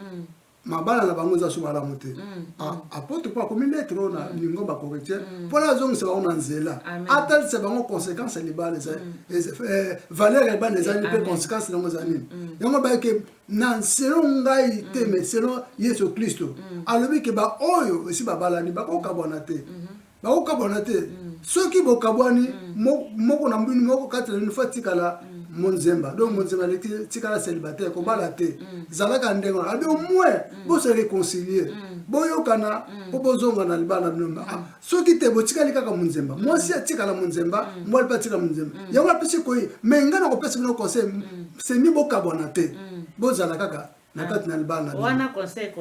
mabala na bango eza so malamu te mm, ah, mm. apotre mpo akomi netre oyo na lingomba mm. corintien mpo na azongisa bango na nzela atalisa bango conséquence ya libala eza eh, valeur ya libala ezali mpe conséquence na yango eza nini yango bayeke na selon ngai te mais selon yesu kristo alobi ke baoyo esi babalani bakokabwana te mm-hmm. bakokabwana te mm. soki bokabwani mm. moko na mbini moko kati na bino fo atikala mm. monzemba donc monzemba aleki tikala célibataire kobala te zalaka ndenge wana abi omwin bose réconcilie boyokana mpo bozonga na libala bino ah, soki te botikali kaka monzemba mwasi atikala monzemba mwali mpe atikala monzemba yango apesi koyi mai ngai nakopesa bino conseil semi bokabwana te bozala kaka na mm. kati na libala na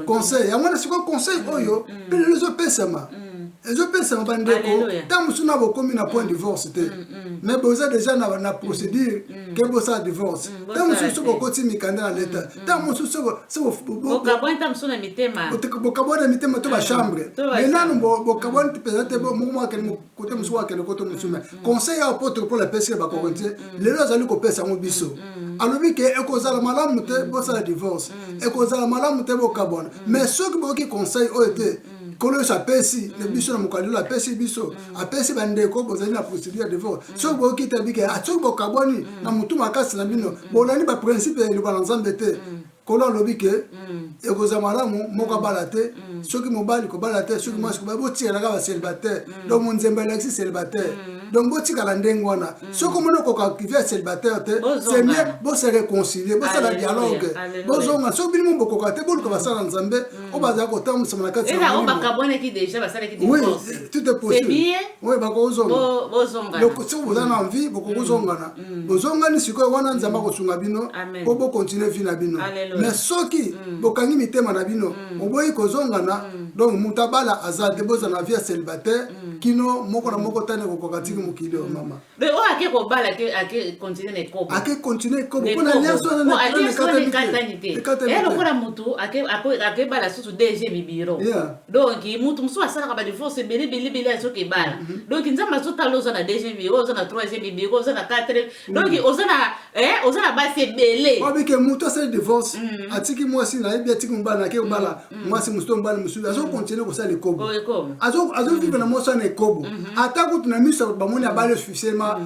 conseil yango wana sikoyo conseil mm. oyo mm. mpe lelo ezopesama ezopesama bandeko ntango mosusu na bokomi na point divorce te mais boza deja na procédure ke bosala divorce ntango mosusu soki bokoti mikanda na leta ntango mosusu bokabwana mitema to bachambre mais nanu bokabwani mpenza te moko mwakende kote mosusu wakende kote mosusu me conseil ya apotre paul apesi bakoko te lelo azali kopesa yango biso alobi ke ekozala malamu te bosala divorce ekozala malamu te bokabwana mais soki boyoki conseil oyo te nkolo yesu apesi na biso na mokali lelo apesi biso apesi bandeko bozali na procédure ya divorce soki boyoki te abike soki bokabwani na motu makasi na bino bolandi baprincipe ya liloba na nzambe te nkolo alobi ke mm. ekozala malamu moko mm. abala te mm. soki mobali kobala te soki mwasi kobala botikala kaka célibataire donc monzembe alakisi célibataire donc botikala ndenge wana soki omoni okokakive ya célibataire te c'est mieux bose réconcilie bosala dialogue bozonga soki bino bokoka te boluka basala nzambe oyo bazala kotambwisama na kati oui tout est possible oui bakozonga soki boza na envie bokokozongana mm. bozongani sikoyo wana nzambe mm. akosunga bino mpo bokontinue vi na bino me soki mm. bokangi mitema na bino mm. oboyi kozongana mm. donc moto abala aza te bozala na vie ya celibataire mm. kino moko na moko tani ekokoka tiki mokili oyo mm. mama oh, ake kobala te ake continue na ekobo ake continue na ekobo mpona liaso wana na ekatani te lokola motu ake bala susu dg mibiro donc mutu mosusu asalaka badivorce ebele ebele ebele azoki ebala mhm. donc nzambe azotala oza na deuxième vie oza na troisième vie oza na quatrième mhm. donc oza na eh, oza na basi ebele obike mutu asali divorce mhm. atiki mwasi nayebi atiki mobali nake obala mwasi mosusu to mobali mosusu azokontinue kosala ekobo oh, azovivre na mwasi wana ekobo ata kutu na miso bamoni abali officiellement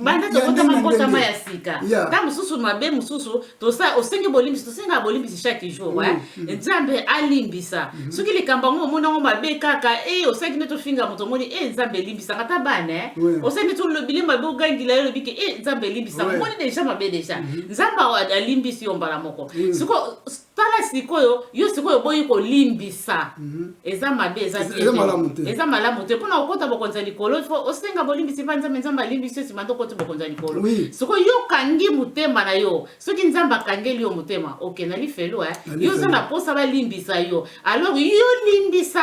banda tokotama nkotama ya sika ntango mosusu mabe mosusu osengi bolimbisi tosengaka bolimbisi chaque jour mm, eh? mm. nzambe alimbisa mm-hmm. soki likambo yango omoni yango mabe kaka e eh, osengi nde tofinga moto omoni e eh, nzambe elimbisaka ata bana eh? osengi nde tolobili mabe ogangila yo olobi ke e nzambe elimbisaka omoni deja mabe deja mm-hmm. nzambe alimbisi yo mbala moko siko Tala sikoyo yo sikoyo oboyi kolimbisa eza mabe eza Eza- te eza te. malamu te. eza malamu te mpona kokota bokonzi ya likolo ifo osenga bolimbisi mpa nzambe nzambe alimbisi yo nsima nde okoti bokonzi ya likolo Oui. sikoyo yo okangi motema na yo soki nzambe akangeli yo motema oke na lifelo eh? Na yo oza lifelo. na mposa balimbisa yo alors yo limbisa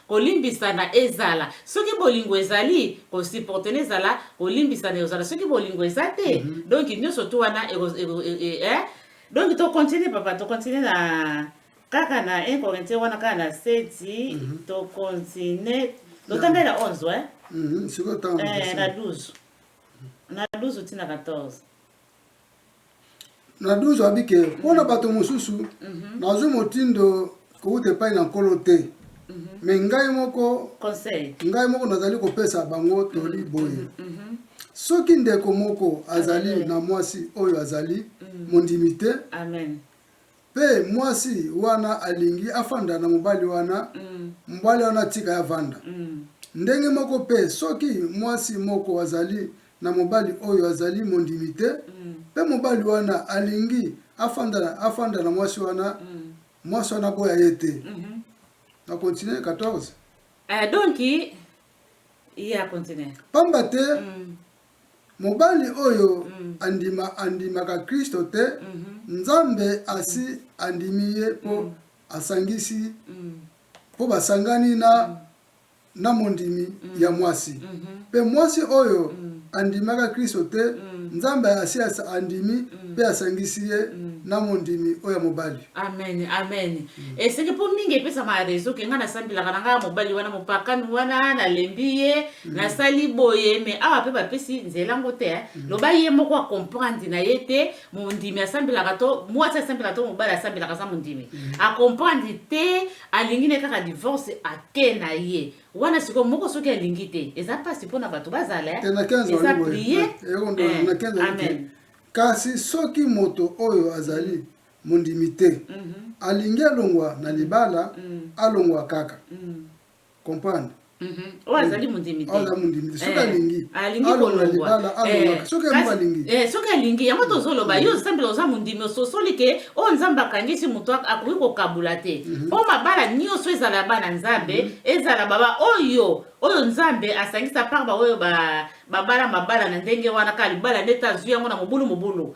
kolimbisana ezala soki bolingo ezali kosiportene ezala kolimbisana ezala soki bolingo eza te mm -hmm. donc nyonso tu wana eh? donc tocontinue papa tocontinue na kaka na 1 corinthien wana kaka na seti mm -hmm. tocontinue totanga na 11 eh? mm -hmm. na 12 na 12 ti na 14 na 12 abi ke mpo na bato mosusu nazwi motindo kouta epai na nkolo te me ngai moko Conseil. ngai moko nazali kopesa bango toli boye soki ndeko moko azali Amen. na mwasi oyo azali mondimi te Amen. Pe mwasi wana alingi afanda na mobali wana, mobali wana atika ye avanda. Ndenge moko pe, soki mwasi moko azali na mobali oyo azali mondimi te, pe mobali wana alingi afanda, afanda na mwasi wana, mwasi wana aboya ye te. Na continuer 14? Eh, donki, ye akontinue. Pamba te, Mobali oyo andima andimaka Kristo te, Nzambe asi andimi ye mpo asangisi, mpo basangani na, na mondimi ya mwasi. Mpe mwasi oyo andimaka Kristo te, Nzambe asi andimi mpe asangisi ye na mondimi oyo ya mobali. Amen, amen. eseke mpo mingi epesama ya rezo ke ngai nasambelaka na ngai ya mobali wana mopakami wana nalembi ye mm. nasali boye me awa mpe bapesi nzela ngo te mm. loba ye moko akomprendre na ye te mondimi asambelaka to mwasi asambelaka to mobali asambelaka aza mondimi mm. akomprendre te alingi ne kaka divorce ake na ye wana sikoyo moko soki alingi te eza mpasi mpo na bato bazala eh, eza prie eh, eh, kasi soki moto oyo azali mm. mondimi te alingi alongwa na libala alongwa kaka comprendre oyo azali mondimi te soki alingi alonga libala alongaka soki yango alingi soki alingi yango tozoloba yo osambela oza mondimi ososoli ke oyo nzambe akangisi moto akoki kokabula te mpo mabala nyonso ezala ya bana nzambe ezala baba oyo oyo nzambe asangisa par baoyo babala mabala na ndenge wana kaka libala nde te azwi yango na mobulu mobulu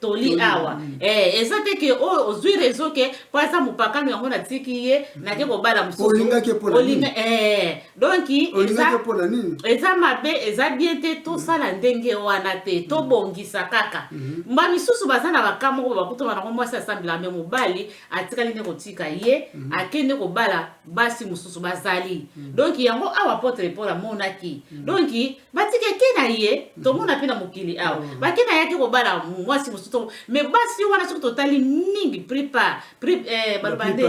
toli awa eh, eza te ke oyo oh, ozwi rezo ke mpo aza mopakano yango natiki ye nake kobala mosusuolinga eh, donk eza mabe eza bien te tosala ndenge wana te tobongisa kaka mhm. mba misusu baza na bakama oyo bakutama nango mwasi asambela me mobali atikali nde kotika ye mhm. akende kobala basi mosusu bazali mhm. donk yango awa apotre paul amonaki donk batike ke na ye tomona mpe na mokili awa mm. bake na yaki kobala mwasi mosusu me basi wana soki totali mingi prepar eh, baloba nde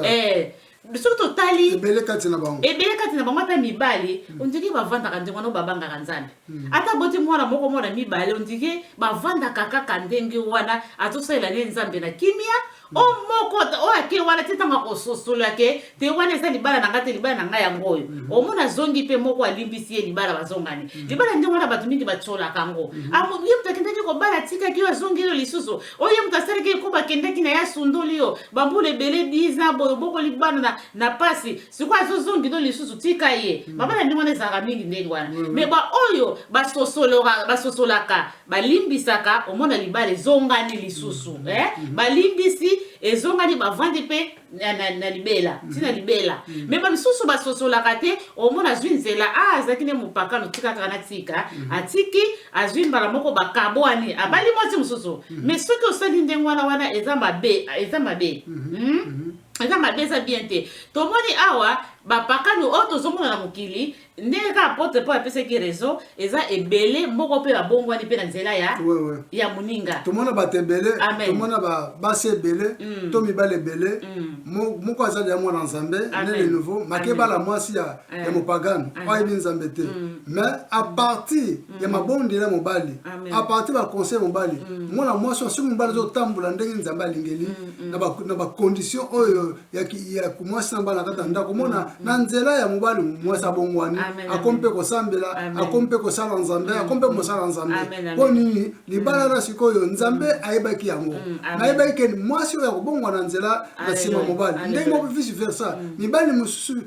eh, soki totali ebele kati na bango ebele kati na bango ata mibali mm. ondiki bavandaka ndenge wana babangaka nzambe mm. ata boti mwana moko mwana mibale ondiki bavandaka kaka ndenge wana azosalela ne nzambe na kimia o moko oyo ake wana ti ntango akososolo yake te wana eza libala na ngai te libala na ngai yango oyo mhm. omona azongi mpe moko alimbisi ye libala bazongani mhm. libala ndenge wana bato mingi batiolaka yango mhm. ah, ye moto akendaki kobala atikaki yo azongi yo lisusu oyo ye moto asalaki ekoba akendaki na ye asundoli yo bambula ebele diza boyo bokoli bana na mpasi sikoyo azozongi no lisusu tika ye mabala ndenge wana ezalaka mingi ndenge wana me baoyo basosolaka balimbisaka omona libala ezongani lisusu mm. eh? Mm. balimbisi ezongani bavandi mpe na, na, na libela mm. ntina libela mm. me bamisusu basosolaka te omona azwi nzela a ah, azalaki nde mopakano tika kaka natika mm. atiki azwi mbala moko bakabwani abali mm. mwasi mosusu mm. me soki osali ndenge wana wana eza mabe eza mabe mm -hmm. mm? mm -hmm. eza mabe eza bien te tomoni awa bapakano oyo tozomona na mokili ndenge kaka apotre paul apesaki raison eza ebele moko mpe babongwani mpe na nzela ya ouais, ouais. ya moninga tomona bato ebele tomona basi ebele mm. to mibali ebele mm. moko azali ya mwana nzambe ne de nouveau makebala mwasi ya, eh. ya mopagano oyo ayebi nzambe te mm. mais à partir mm. ya mabondeli ya mobali à partir ya baconseil mobali mm. mwana mwasi oyo soki mobali azotambola ndenge nzambe alingeli mm, mm. na bacondition oyo ya mwasi na bana kati na ndako omona mm, na mm. nzela ya mobali mwasi abongwani akomi mpe kosambela akomi mpe kosala nzambe mm, akomi mpe mosala nzambe mpo nini libala na sikoyo nzambe ayebaki yango nayebaki ke mwasi oyo akobongwa na nzela na nsima mobali ndenge moko vice versa mibali mosusu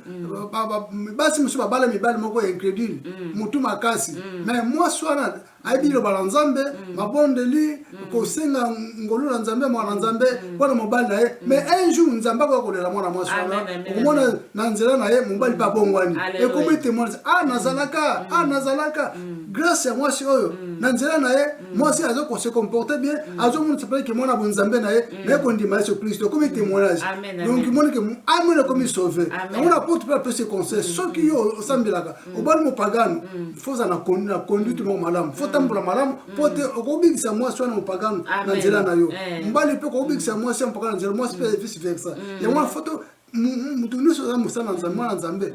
basi mosusu babala mibali moko ya incredule motu makasi me mwasi wana ayebi liloba la nzambe mm. mabondeli mm. kosenga ngolu na nzambe mwana na nzambe mm. mpo na mobali na ye mais un jour nzambe akoya kolela mwana mwasi wana okomona na nzela na ye mobali mpe abongwani ekomi témoignage a ah, nazalaka a ah, nazalaka grâce ya mwasi oyo na nzela na ye mwasi azo kose comporte bien azomonisa mpe ke mwana bonzambe na ye naye kondima yesu kristo ekomi témoignage donc moni ke amene ekomi sauve yango na porte mpe apesi conseil soki yo osambelaka mm. obali mopagano mm. fo oza na conduite moko malamu fo otambola mm. malamu mpo te okobikisa mwasi wana mopagano na nzela na yo eh. mobali mpe okobikisa mwasi ya mopagano na nzela mwasi mpe vice versa yango wana foto moto nyonso aza mosala na nzambe mwana nzambe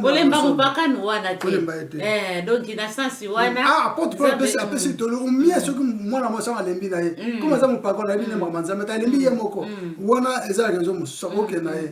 olemba mopakano wana te donk na sensi wanaapesi tolo omie soki mwana mwasi yango alembi na ye koma aza mopakano ayebi nembama nzambe te alembi ye moko wana eza rezo mosusu akokenda ye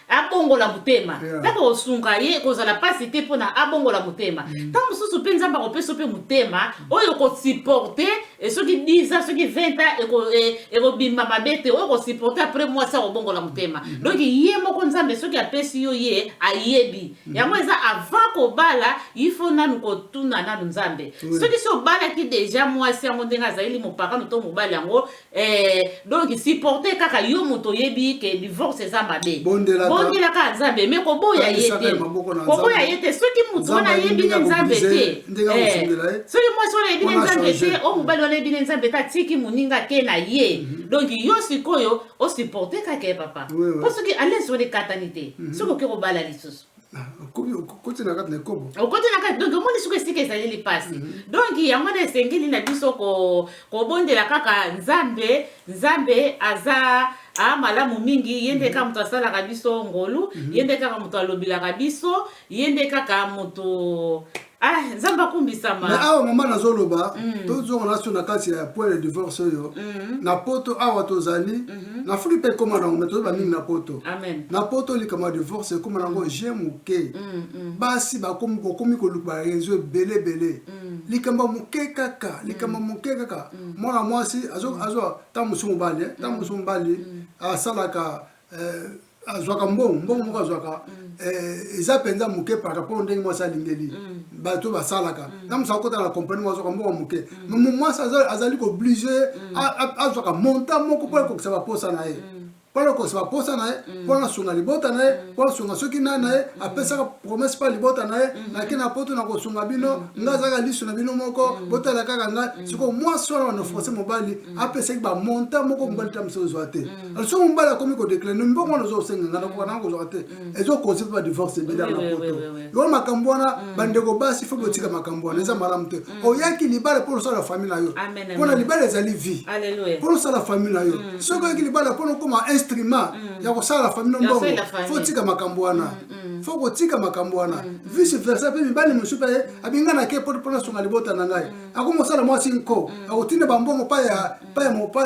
abongola motema ntango yeah. osunga ye ekozala mpasi te mpo na abongola motema mm. ntango mm. mosusu mpe nzambe akopesa mpe motema oyo okosupporte eh, soki 10 ans soki 20 ans eh, ekobima mabe te oyo okosupporte après mwasi akobongola motema mm. donc ye moko nzambe soki apesi yo ye ayebi mm. yango eza avant kobala ifo nanu kotuna nanu nzambe oui. soki si obalaki deja mwasi yango ndenge azalili mopakano to mobali yango Eh, donc supporter kaka yo moto oyebi ke divorce eza mabe bondela kaka nzambe me koboya ye te koboya ye te soki moto wana ayebi ne nzambe te eh, soki mwasi wana ayebi ne nzambe te o oh, mobali wana ayebi ne nzambe te atiki moninga ke na ye mhm. donc yo sikoyo osupporte kaka ye papa mpo soki alesi wana ekatani te mhm. soki oke kobala lisusu okoti na kati na ekobo okoti na kati donc omoni soki esika ezali lipasi mhm. donc yango wana esengeli na biso kobondela kaka nzambe nzambe aza a malamu mingi ye nde mhm. kaka moto asalaka biso ngolu mhm. ye nde kaka moto alobelaka biso ye nde kaka moto Ah, nzambe akumbisama me awa mama nazoloba mm. tozonga naso na kati ya point ya divorce oyo mm. na poto awa tozali mm -hmm. na afrika mpe ekóma nango me toyeba mingi na poto Amen. na poto likambo ya divorce ekóma nango mm. je moke mm, mm. basi bakomi koluka rezo ebele ebele mm. likambo moke kaka mm. likambo mm. moke kaka mm. mwana mwasi azwa mm. ntango mosusu mobali eh, ntango mm. mosusu mobali mm. asalaka eh, azwaka mbongo mbongo moko azwaka eh, eza mpenza moke par rapport ndenge mwasi alingeli mm. bato basalaka mm. na mosala kota na kompani moko azwaka mbongo moke mm. mwasi azali kooblige azwaka monta moko mpo ekokisa baposa na ye mpo akosa baposa na ye mpo nasunga libota na ye mpo asunga soki nai na ye apesaka promese mpa libota na ye nake na poto na kosunga bino ngai azalaka liso na bino moko botala kaka ngai sikoyo mwasi wana wana force mobali apesaki bamonta moko mobali ta mosi ozwa te Mm. soki mobali akomi kodeclare no mbongo wana oza kosenga nga nakoka nanga kozwaka te mm. ezo cause mpe badivorce ebele na poto yo makambo wana mm. bandeko basi fo botika makambo wana eza malamu te oyaki libala mpo osala famille na yo mpona libala ezali vie mpo osala famille na yo soki oyaki libala mpo nokoma instrument ya kosala famille no mbongo fo otika makambo wana fo kotika makambo wana vice versa mpe mibali mosusu mpe abinganaki mpo nasunga libota na ngai akomosala mwasi nko akotinda bambongo mpa ya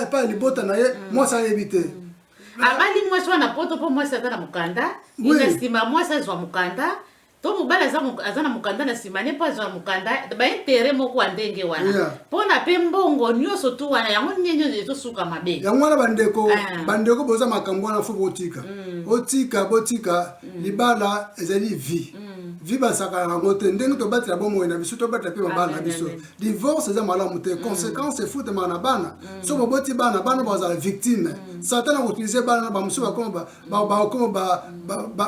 epai ya libota na ye mm. mwasi ayebi te mm. abali mwasi wana poto mpo mwasi aza na mokanda na nsima mwasi azwa mokanda to mobali aza na mokanda na nsima ne mpo azwa mokanda baintere moko ya ndenge wana mpona mpe mbongo nyonso tu wana yango ndenge nyonso ezosuka mabe yango wana bandeko ah. bandeko boza makambo wana fo botika mm. botika botika mm. libala ezali vie mm. vie basakanaka yango te ndenge tobatela bomoi na biso tobatela mpe mabala na biso divorce eza malamu te mm. conséquence efutamaka na bana mm. so boboti bana bana bazala victime mm. satana akoutilize bana na bamosusu bakoma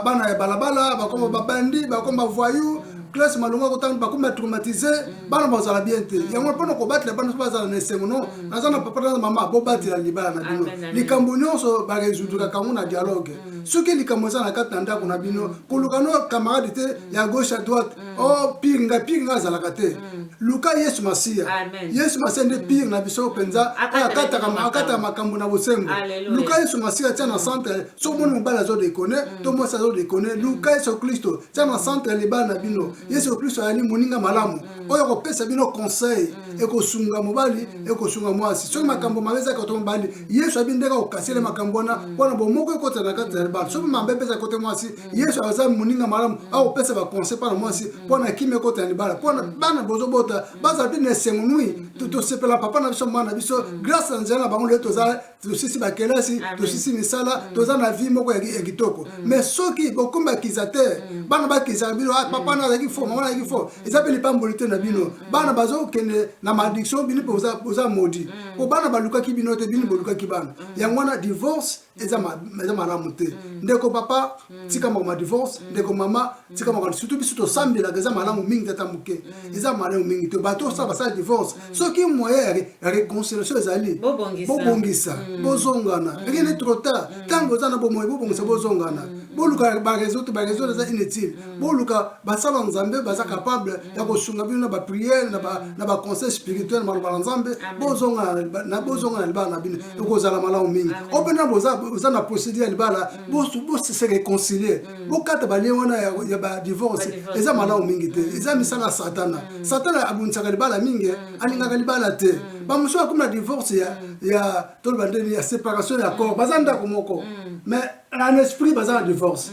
bana ya balabala bakoma babandi bakoma bavoyou classe malonga kotanga bakoma traumatise bana bazala bien te yango mpona kobatela bana so bazala na esengo no naza na papa na mama bobatela libala na bino likambo nyonso baresoudraka yango na dialogue soki likambo eza na kati na ndako na bino koluka no camarade te ya gauche à droite mm. o oh, pire ngai pire ngai azalaka te mm. luka yesu masiya yesu masiya nde mm. pire na biso mpenza oyo akataka makambo na bosembo luka yesu masiya tia na mm. centre soki omoni mobali azodekone mm. to mwasi azodekone luka yesu kristo tia na centre ya libala na bino mm. yesu kristo ayali moninga malamu mm. oyo akopesa bino conseil mm. ekosunga mobali mm. ekosunga mwasi soki mm. makambo mabe ezalaka to mobali yesu abi ndenge akokasele makambo wana mpo na bomoko ekotana kati na libala soki mabe mpeza kote mwasi yesu aza moninga malamu mm. akopesa baconseil mpo na mwasi mpo mm. na kimia ekota ya libala mpo na mm. bana bozobota bazala mpe na esengo nui tosepela papa na biso mwana na biso grâce na nzela na bango lelo toza tosisi bakelasi tosisi misala toza na vie moko ya kitoko mais soki bokomi bakiza te bana bakizaka bino ah, papa na azalaki fo mama azalaki fo eza mpe lipamboli te na bino bana bazokende na maldiction bino mpe boza modi mpo bana balukaki bino te bino bolukaki bana yango wana divorce eza malamu te mm. ndeko papa mm. tika makambo ya divorce mm. ndeko mama tika makambo surtout biso tosambelaka eza malamu mingi tata moke eza malamu mingi te bato osala basala divorce soki moyen ya réconciliation ezali bobongisa bozongana rien est trop tard ntango oza na bomoi bobongisa bozongana boluka bareseau te bareseau eza inutile boluka basala nzambe baza capable ya kosunga bino na bapriere na baconseil spirituel na maloba na nzambe bozongana na libala na bino mm. ekozala malamu mingi o mpena boza na procédure ya libala mm. bose réconcilie mm. bokata balie wana ya badivorce eza malamu mingi te eza misala ya satana satana abundisaka libala mingi eh. alingaka libala te bamosusu bakomi na divorce ya toloba ndeni ya séparation ya corps baza ndako moko mais en esprit baza na divorce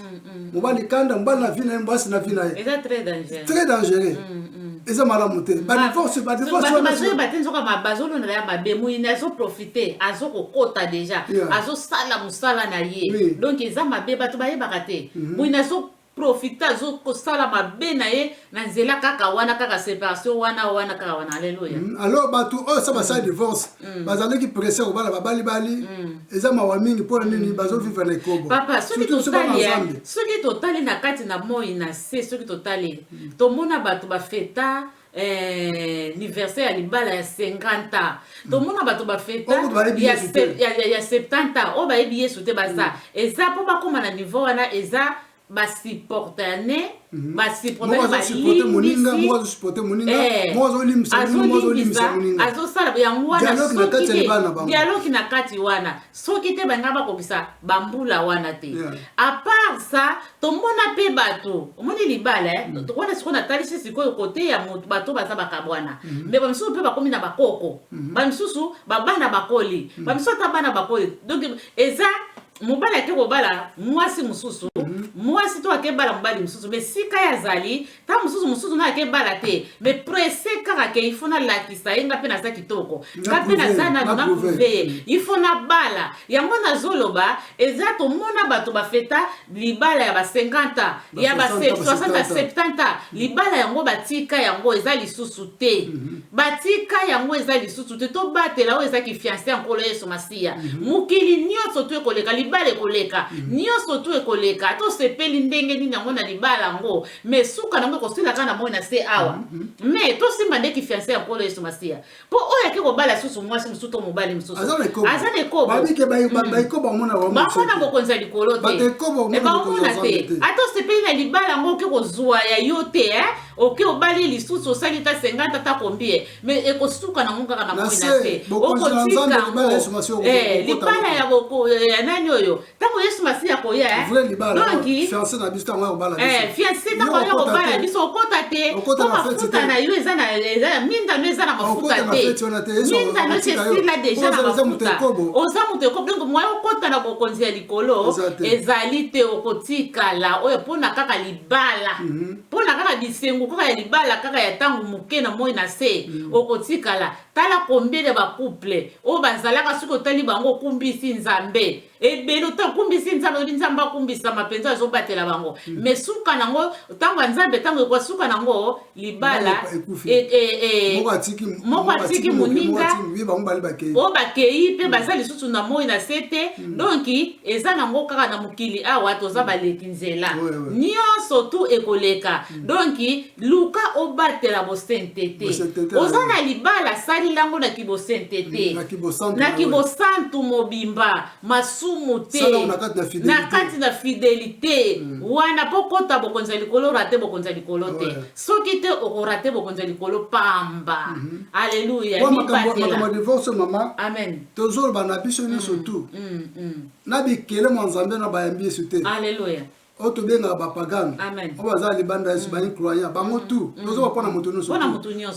mobali kanda mobali na vie na ye mwasi na vie na ye eza très dangereux très dangereux eza malamu te badivorce badivorcebazoyeba te nzoka bazolonela ya mabe moyini azoprofite azokokota deja azosala mosala na ye donc eza mabe bato bayebaka te moyini azo profita azo kosala mabe na ye na nzela kaka wana kaka separation wana wana kaka wana aleluya mm, alors bato oyo sa basala mm. divorce mm. bazalaki presse ya kobala babali bali mm. eza mawa mingi mpo na nini mm. bazovivre na ekobo papa soki totali soki totali na kati na moi na se soki totali mm. tomona bato bafeta Eh, anniversaire ya libala ya 50 ans tomona bato bafeta ya 70 ans oyo bayebi yesu te baza mm. eza mpo bakóma na niveau wana eza basupportane mhm. basupporteazosala eh, yango wanadialogi na kati wana soki te balinga bakokisa bambula wana te apart ça tomona mpe bato omoni libala eh? mm. wana sikoyo natalisi sikoyo kote ya moto bato baza bakabwana mm. Mm-hmm. me bamisusu mpe bakomi na bakoko mm. bamisusu babana bakoli mm. bamisusu ata bana bakoli donc eza mobali ake kobala mwasi mosusu mm. mwasi to ake bala mobali mosusu me sika ye azali ntango mosusu mosusu ngai ake bala te me presse kaka ke ifo nalakisa ye nga mpe naza kitoko nga mpe naza nano na prouve ye ifo nabala yango nazoloba eza tomona bato bafeta libala ya ba 50 ans ya ba 60 70 ans libala yango batika yango eza lisusu te mhm. Batika yango eza lisusu te tobatela oyo eza kifianse ya nkolo yesu masiya mhm. mokili nyonso tu ekoleka libala ekoleka mhm. nyonso tu ekoleka tosepeli ndenge nini yango na libala yango me suka nango ekosila kaka na moi na se awa mhm. me tosimba nde kifianse ya nkolo yesu masiya mpo oyo ake kobala lisusu mwasi mosusu to mobali mosusu aza na ekobobamona bokonzi ya likolo te ebamona te ata osepeli na libala yango oke kozwa ya yo te eh? Oke obali lisusu osali ta 50 ata combien mais ekosuka nango kaka na moi na se okotika yango eh, libala ya boko ya nani oyo ntango yesu masiya akoya eh? donki fianse eh, ntango aya kobala biso okota te po mafuta na yo eza na minda no eza na mafuta te minda no esi esila deja na mafuta oza moto ekobo donk moya okota na bokonzi ya likolo ezali te okotikala oyo mpona kaka libala mhm. mpona kaka bisengo kaka ya libala kaka ya ntango moke na moi na se mm. okotikala tala kombele ya bacouple oyo bazalaka soki otali bango okumbisi nzambe ebele ota okumbisi nzambe oyebi nzambe akumbisama mpenza azobatela bango mm. me suka nango ntango ya nzambe ntango ekoa suka nango libala e, e, e, moko atiki moninga oyo bakei mpe mm. baza lisusu na moi na se te donki eza nango kaka na mokili awa toza baleki nzela Oui, oui. nyonso tu ekoleka donki luka obatela bosente te Bosente te, oza oui. na libala salila yango na kibosente te Na kibosantu, na oui. kibosantu mobimba masumu te Sala yango na kati na fidelite. na kati na fidelite wana mpo kota bokonzi ya likolo rate bokonzi ya likolo te Ouais. soki te okorate bokonzi ya likolo pamba aleluya Mwa makambo makambo ya mibatela divorce mama amen tozoloba na biso nyonso tu mm, mm. na bikele mwa nzambe na bayambi yesu te aleluya oyo tobengaka bapagano oyo baza libanda yesu mm. baincroyant bango mm. tout mm. tozoba mpo na moto nyonso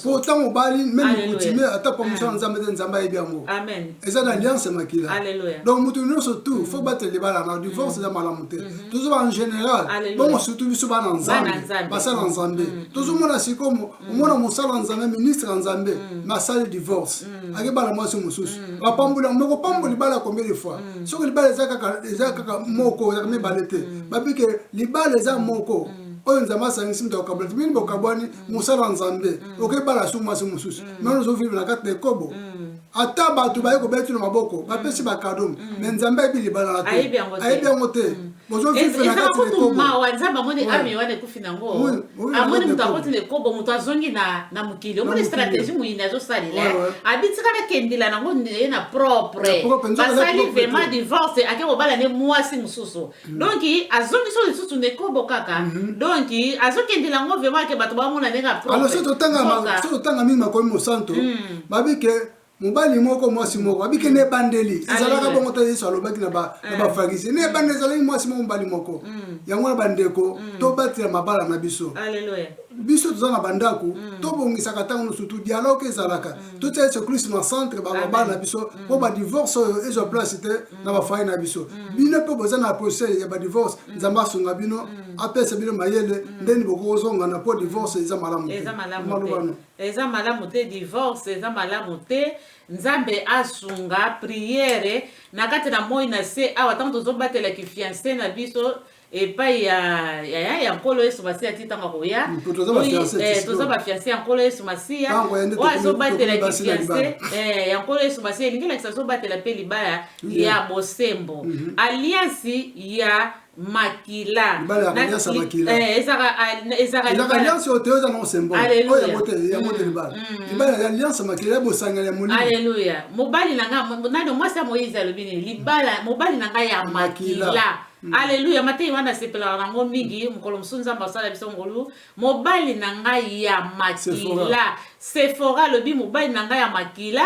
mpo ntango obali meme coutumier ata mpo mosala nzambe te nzambe ayebi yango eza na alliance ya makila donc moto nyonso tout fo batela libala na divorce eza malamu te mm-hmm. tozoba en général bongo surtout biso bana nzambe basala nzambe tozomona sikomo omona mosala ya nzambe ministre ya nzambe me asali divorce akebala mwasi mosusu bapamboli yango moko pambo libala ya combien de fois soki libala eza kaka moko ezaka mibale te babike libala eza moko oyo nzambe asangisi moto akokabwana te bini bokabwani mosala ya nzambe okebala su mwasi mosusu me ozovivre na kati na ekobo ata bato baye kobeti na maboko bapesi bakado me nzambe ayebi libala na te ayebi yango te ezala kutu mawa nzambe amoni ame wana ekufi nango amoni moto akoti na ekobo moto azongi na mokili omoni stratégie moyini azosalela abitika nakendela nango ye na propre basali vraiment divorce ake kobala ne mwasi mosusu mm. donc azongisi oyo lisusu na ekobo kaka mm-hmm. donc azokendela yango vraiment ake bato bamona ndenge aprosoki totanga mingi makomi mosanto mm. babike mobali moko mwasi moko abike na ebandeli ezalaka bongo ta yesu alobaki na bafarise eh. na ebandeli ezalaki mwasi moko mobali moko mm. yango na bandeko mm. tobatela mabala na biso biso toza na bandako mm. tobongisaka ntango nyonso tu dialoge ezalaka mm. totya yesu kristu na centre balobala na biso mm. mpo badivorce oyo ezwa place te na bafai na biso bino mpe boza na procès ya badivorce nzambe asunga bino apesa bino mayele ndeni bokozongana mpo divorce eza malamu te Eza malamu te divorce eza malamu te nzambe asunga priere na kati na moi na se awa ntango tozobatela kifianse na biso epai ya, ya, ya, ya nkolo yesu masiya ti ntango akoya Mm, po toza ba Oyi- fiancés, eh, ti toza sikoyo. bafianse ya nkolo yesu masiya Ntango ya nde oyo tokomi- azobatela tokomi basi na kifianse libala. eh, ya nkolo yesu masiya elingi elakisa azobatela mpe libala Yeah. ya bosembo aliansi ya makila eh, ezaka alliance oyo te oyo eza nango symbole oyo yango te yango te libala libala ya alliance makila ya bosangani ya molimo aleluya mobali na ngai nani mwasi ya moyize alobi nini libala mobali na ngai ya makila Mm. aleluya matei wana asepelaka nango mingi mokolo mosusu nzambe asala biso ngolu mobali na ngai ya makila sefora alobi mobali na ngai ya makila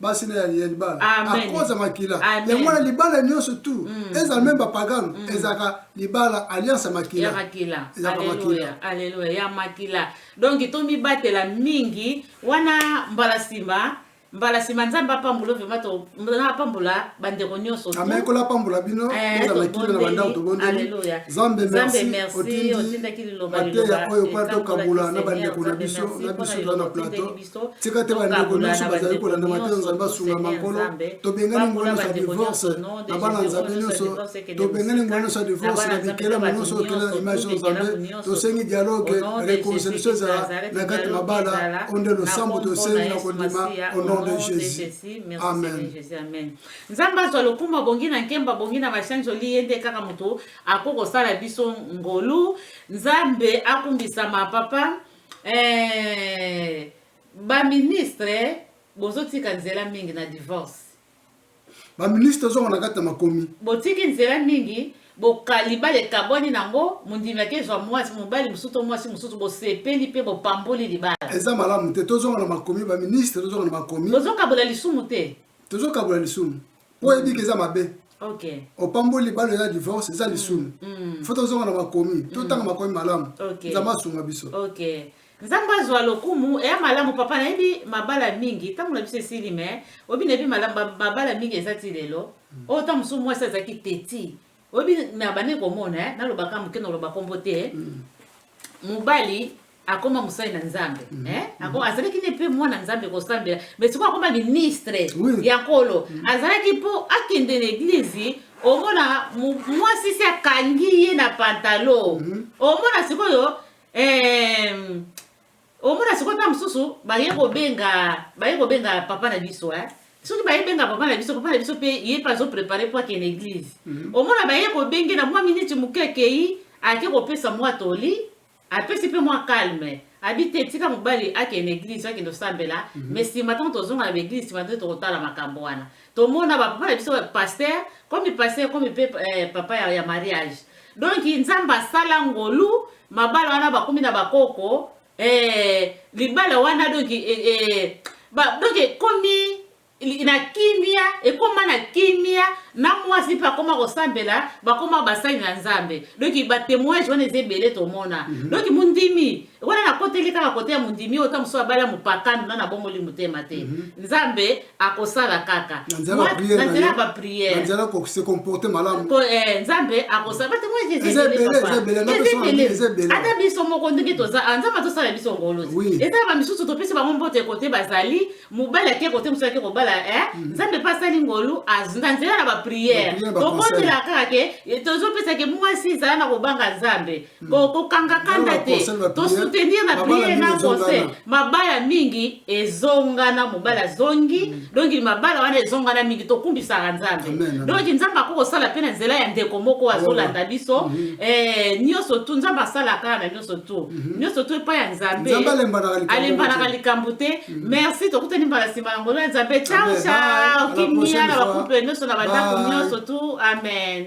basi na ya libala akoza makila yango wana libala nyonso tu mm. ezala meme bapagano mm. ezalaka libala alliance ya makila aleluya ya makila donk tomibatela mingi wana mbala nsima mbala nsima nzambe apambola vraimen na apambola bandeko nyonso amekola apambola bino eh, ozala kino na bandako tobondeli nzambe merci otindaki liloba mateya oyo mpona tokabola na bandeko na biso na biso toza na plateau bakristo tika te bandeko nyonso bazali kolanda mateyo nzambe asunga makolo tobengani ngolo nyonso ya divorce na bana nzambe nyonso tobengani ngolo nyonso ya divorce na bikelamo nyonso okela na image ya nzambe tosengi dialogue reconciliation ezala na kati mabala o nde losambo tosengi na kondima au nom de jésus amen nzambe azwa lokumu abongi na nkembo abongi na basanjoli ye nde kaka moto akoki kosala biso ngolu nzambe akumbisama papa Eh, ba ministre bozotika nzela mingi na divorce. Ba ministre zongo na kati na makomi. Botiki nzela mingi bokalibala ekabwani nango mondimi akezwa mwasi mobali mosusu to mwasi mosusu bosepeli mpe bopamboli libala eza malamu te tozonga na makomi baministre tozonga na makomi tozokabola lisumu te tozokabola lisumu po eyebi ke eza mabe Okay. opamboli libala eza divorce eza lisumu Mm. fo tozonga na makomi totanga makomi malamu Okay. nzambe asunga biso Okay. Nzambe azwa lokumu eya malamu papa nayebi mabala mingi ntango na biso esili me oyebi nayebi malamu ba- mabala mingi eza ti lelo oyo ntango mosusu mwasi azalaki teti oyebi me abandaki komona eh, naloba ka moke naloba nkombo te eh. mm. mobali akoma mosali na nzambe mm. eh? mm. azalaki ne mpe mwana nzambe kosambela me sikoyo akoma ministre ya nkolo mm. azalaki mpo akende na eglize omona mwasi si akangi ye na pantalo omona sikoyo Omona sikoyo ntango mosusu baye kobenga baye kobenga papa na biso eh? soki baye benga papa na biso papa na biso mpe ye mpe azoprepare mpo akende eglize mhm. omona baye kobenge na mwa miniti moke akei ake kopesa mwa toli apesi mpe mwa calme abi te tika mobali akende eglize akende osambela mhm. me nsima ntango tozonga na baeglize nsima nde tokotala makambo wana Tomona ba papa na biso pasteur, comme pasteur comme pe eh, papa ya, ya mariage. Donc Nzambe asala ngolu, mabala wana bakomi na bakoko, eh, libala wana donc eh, eh, ba, donc ekomi na kimia ekoma na kimia na mwasi mpe akoma kosambela bakoma basali na nzambe donki batemoignage wana eza ebele tomona mm -hmm. donki mondimi wana nakoteli kaka kote ya mondimi oyo ta mosusu abala mopakano na nabongoli motema te mhm. nzambe akosala kaka na nzela ya baprièrese comporte malamu eh, nzambe akosala ata biso moko ndenge toza ah, nzambe azosala biso ngolo te eza bamisusu topesi bango mbote kote bazali mobali ake kote mosusu ake kobala eh, mhm. nzambe mpe asali ngolu na nzela na baprière tokotela kaka ke eh, tozopesa ke mwasi ezala na kobanga nzambe kokanga kanda te tosoutenir na priere na conseil mabala mingi ezongana mobali azongi mm. donki mabala wana ezongana mingi tokumbisaka nzambe donki nzambe akoki kosala mpe na nzela ya ndeko moko azolanda biso mm-hmm. eh, nyonso tu nzambe asalaka na nyonso tu mm-hmm. nyonso tu epai ya nzambe alembanaka likambo te mm-hmm. merci tokutani mbala nsima ya ngolo ya nzambe ciao ciao kimia na bakuple nyonso na bandako nyonso tu amen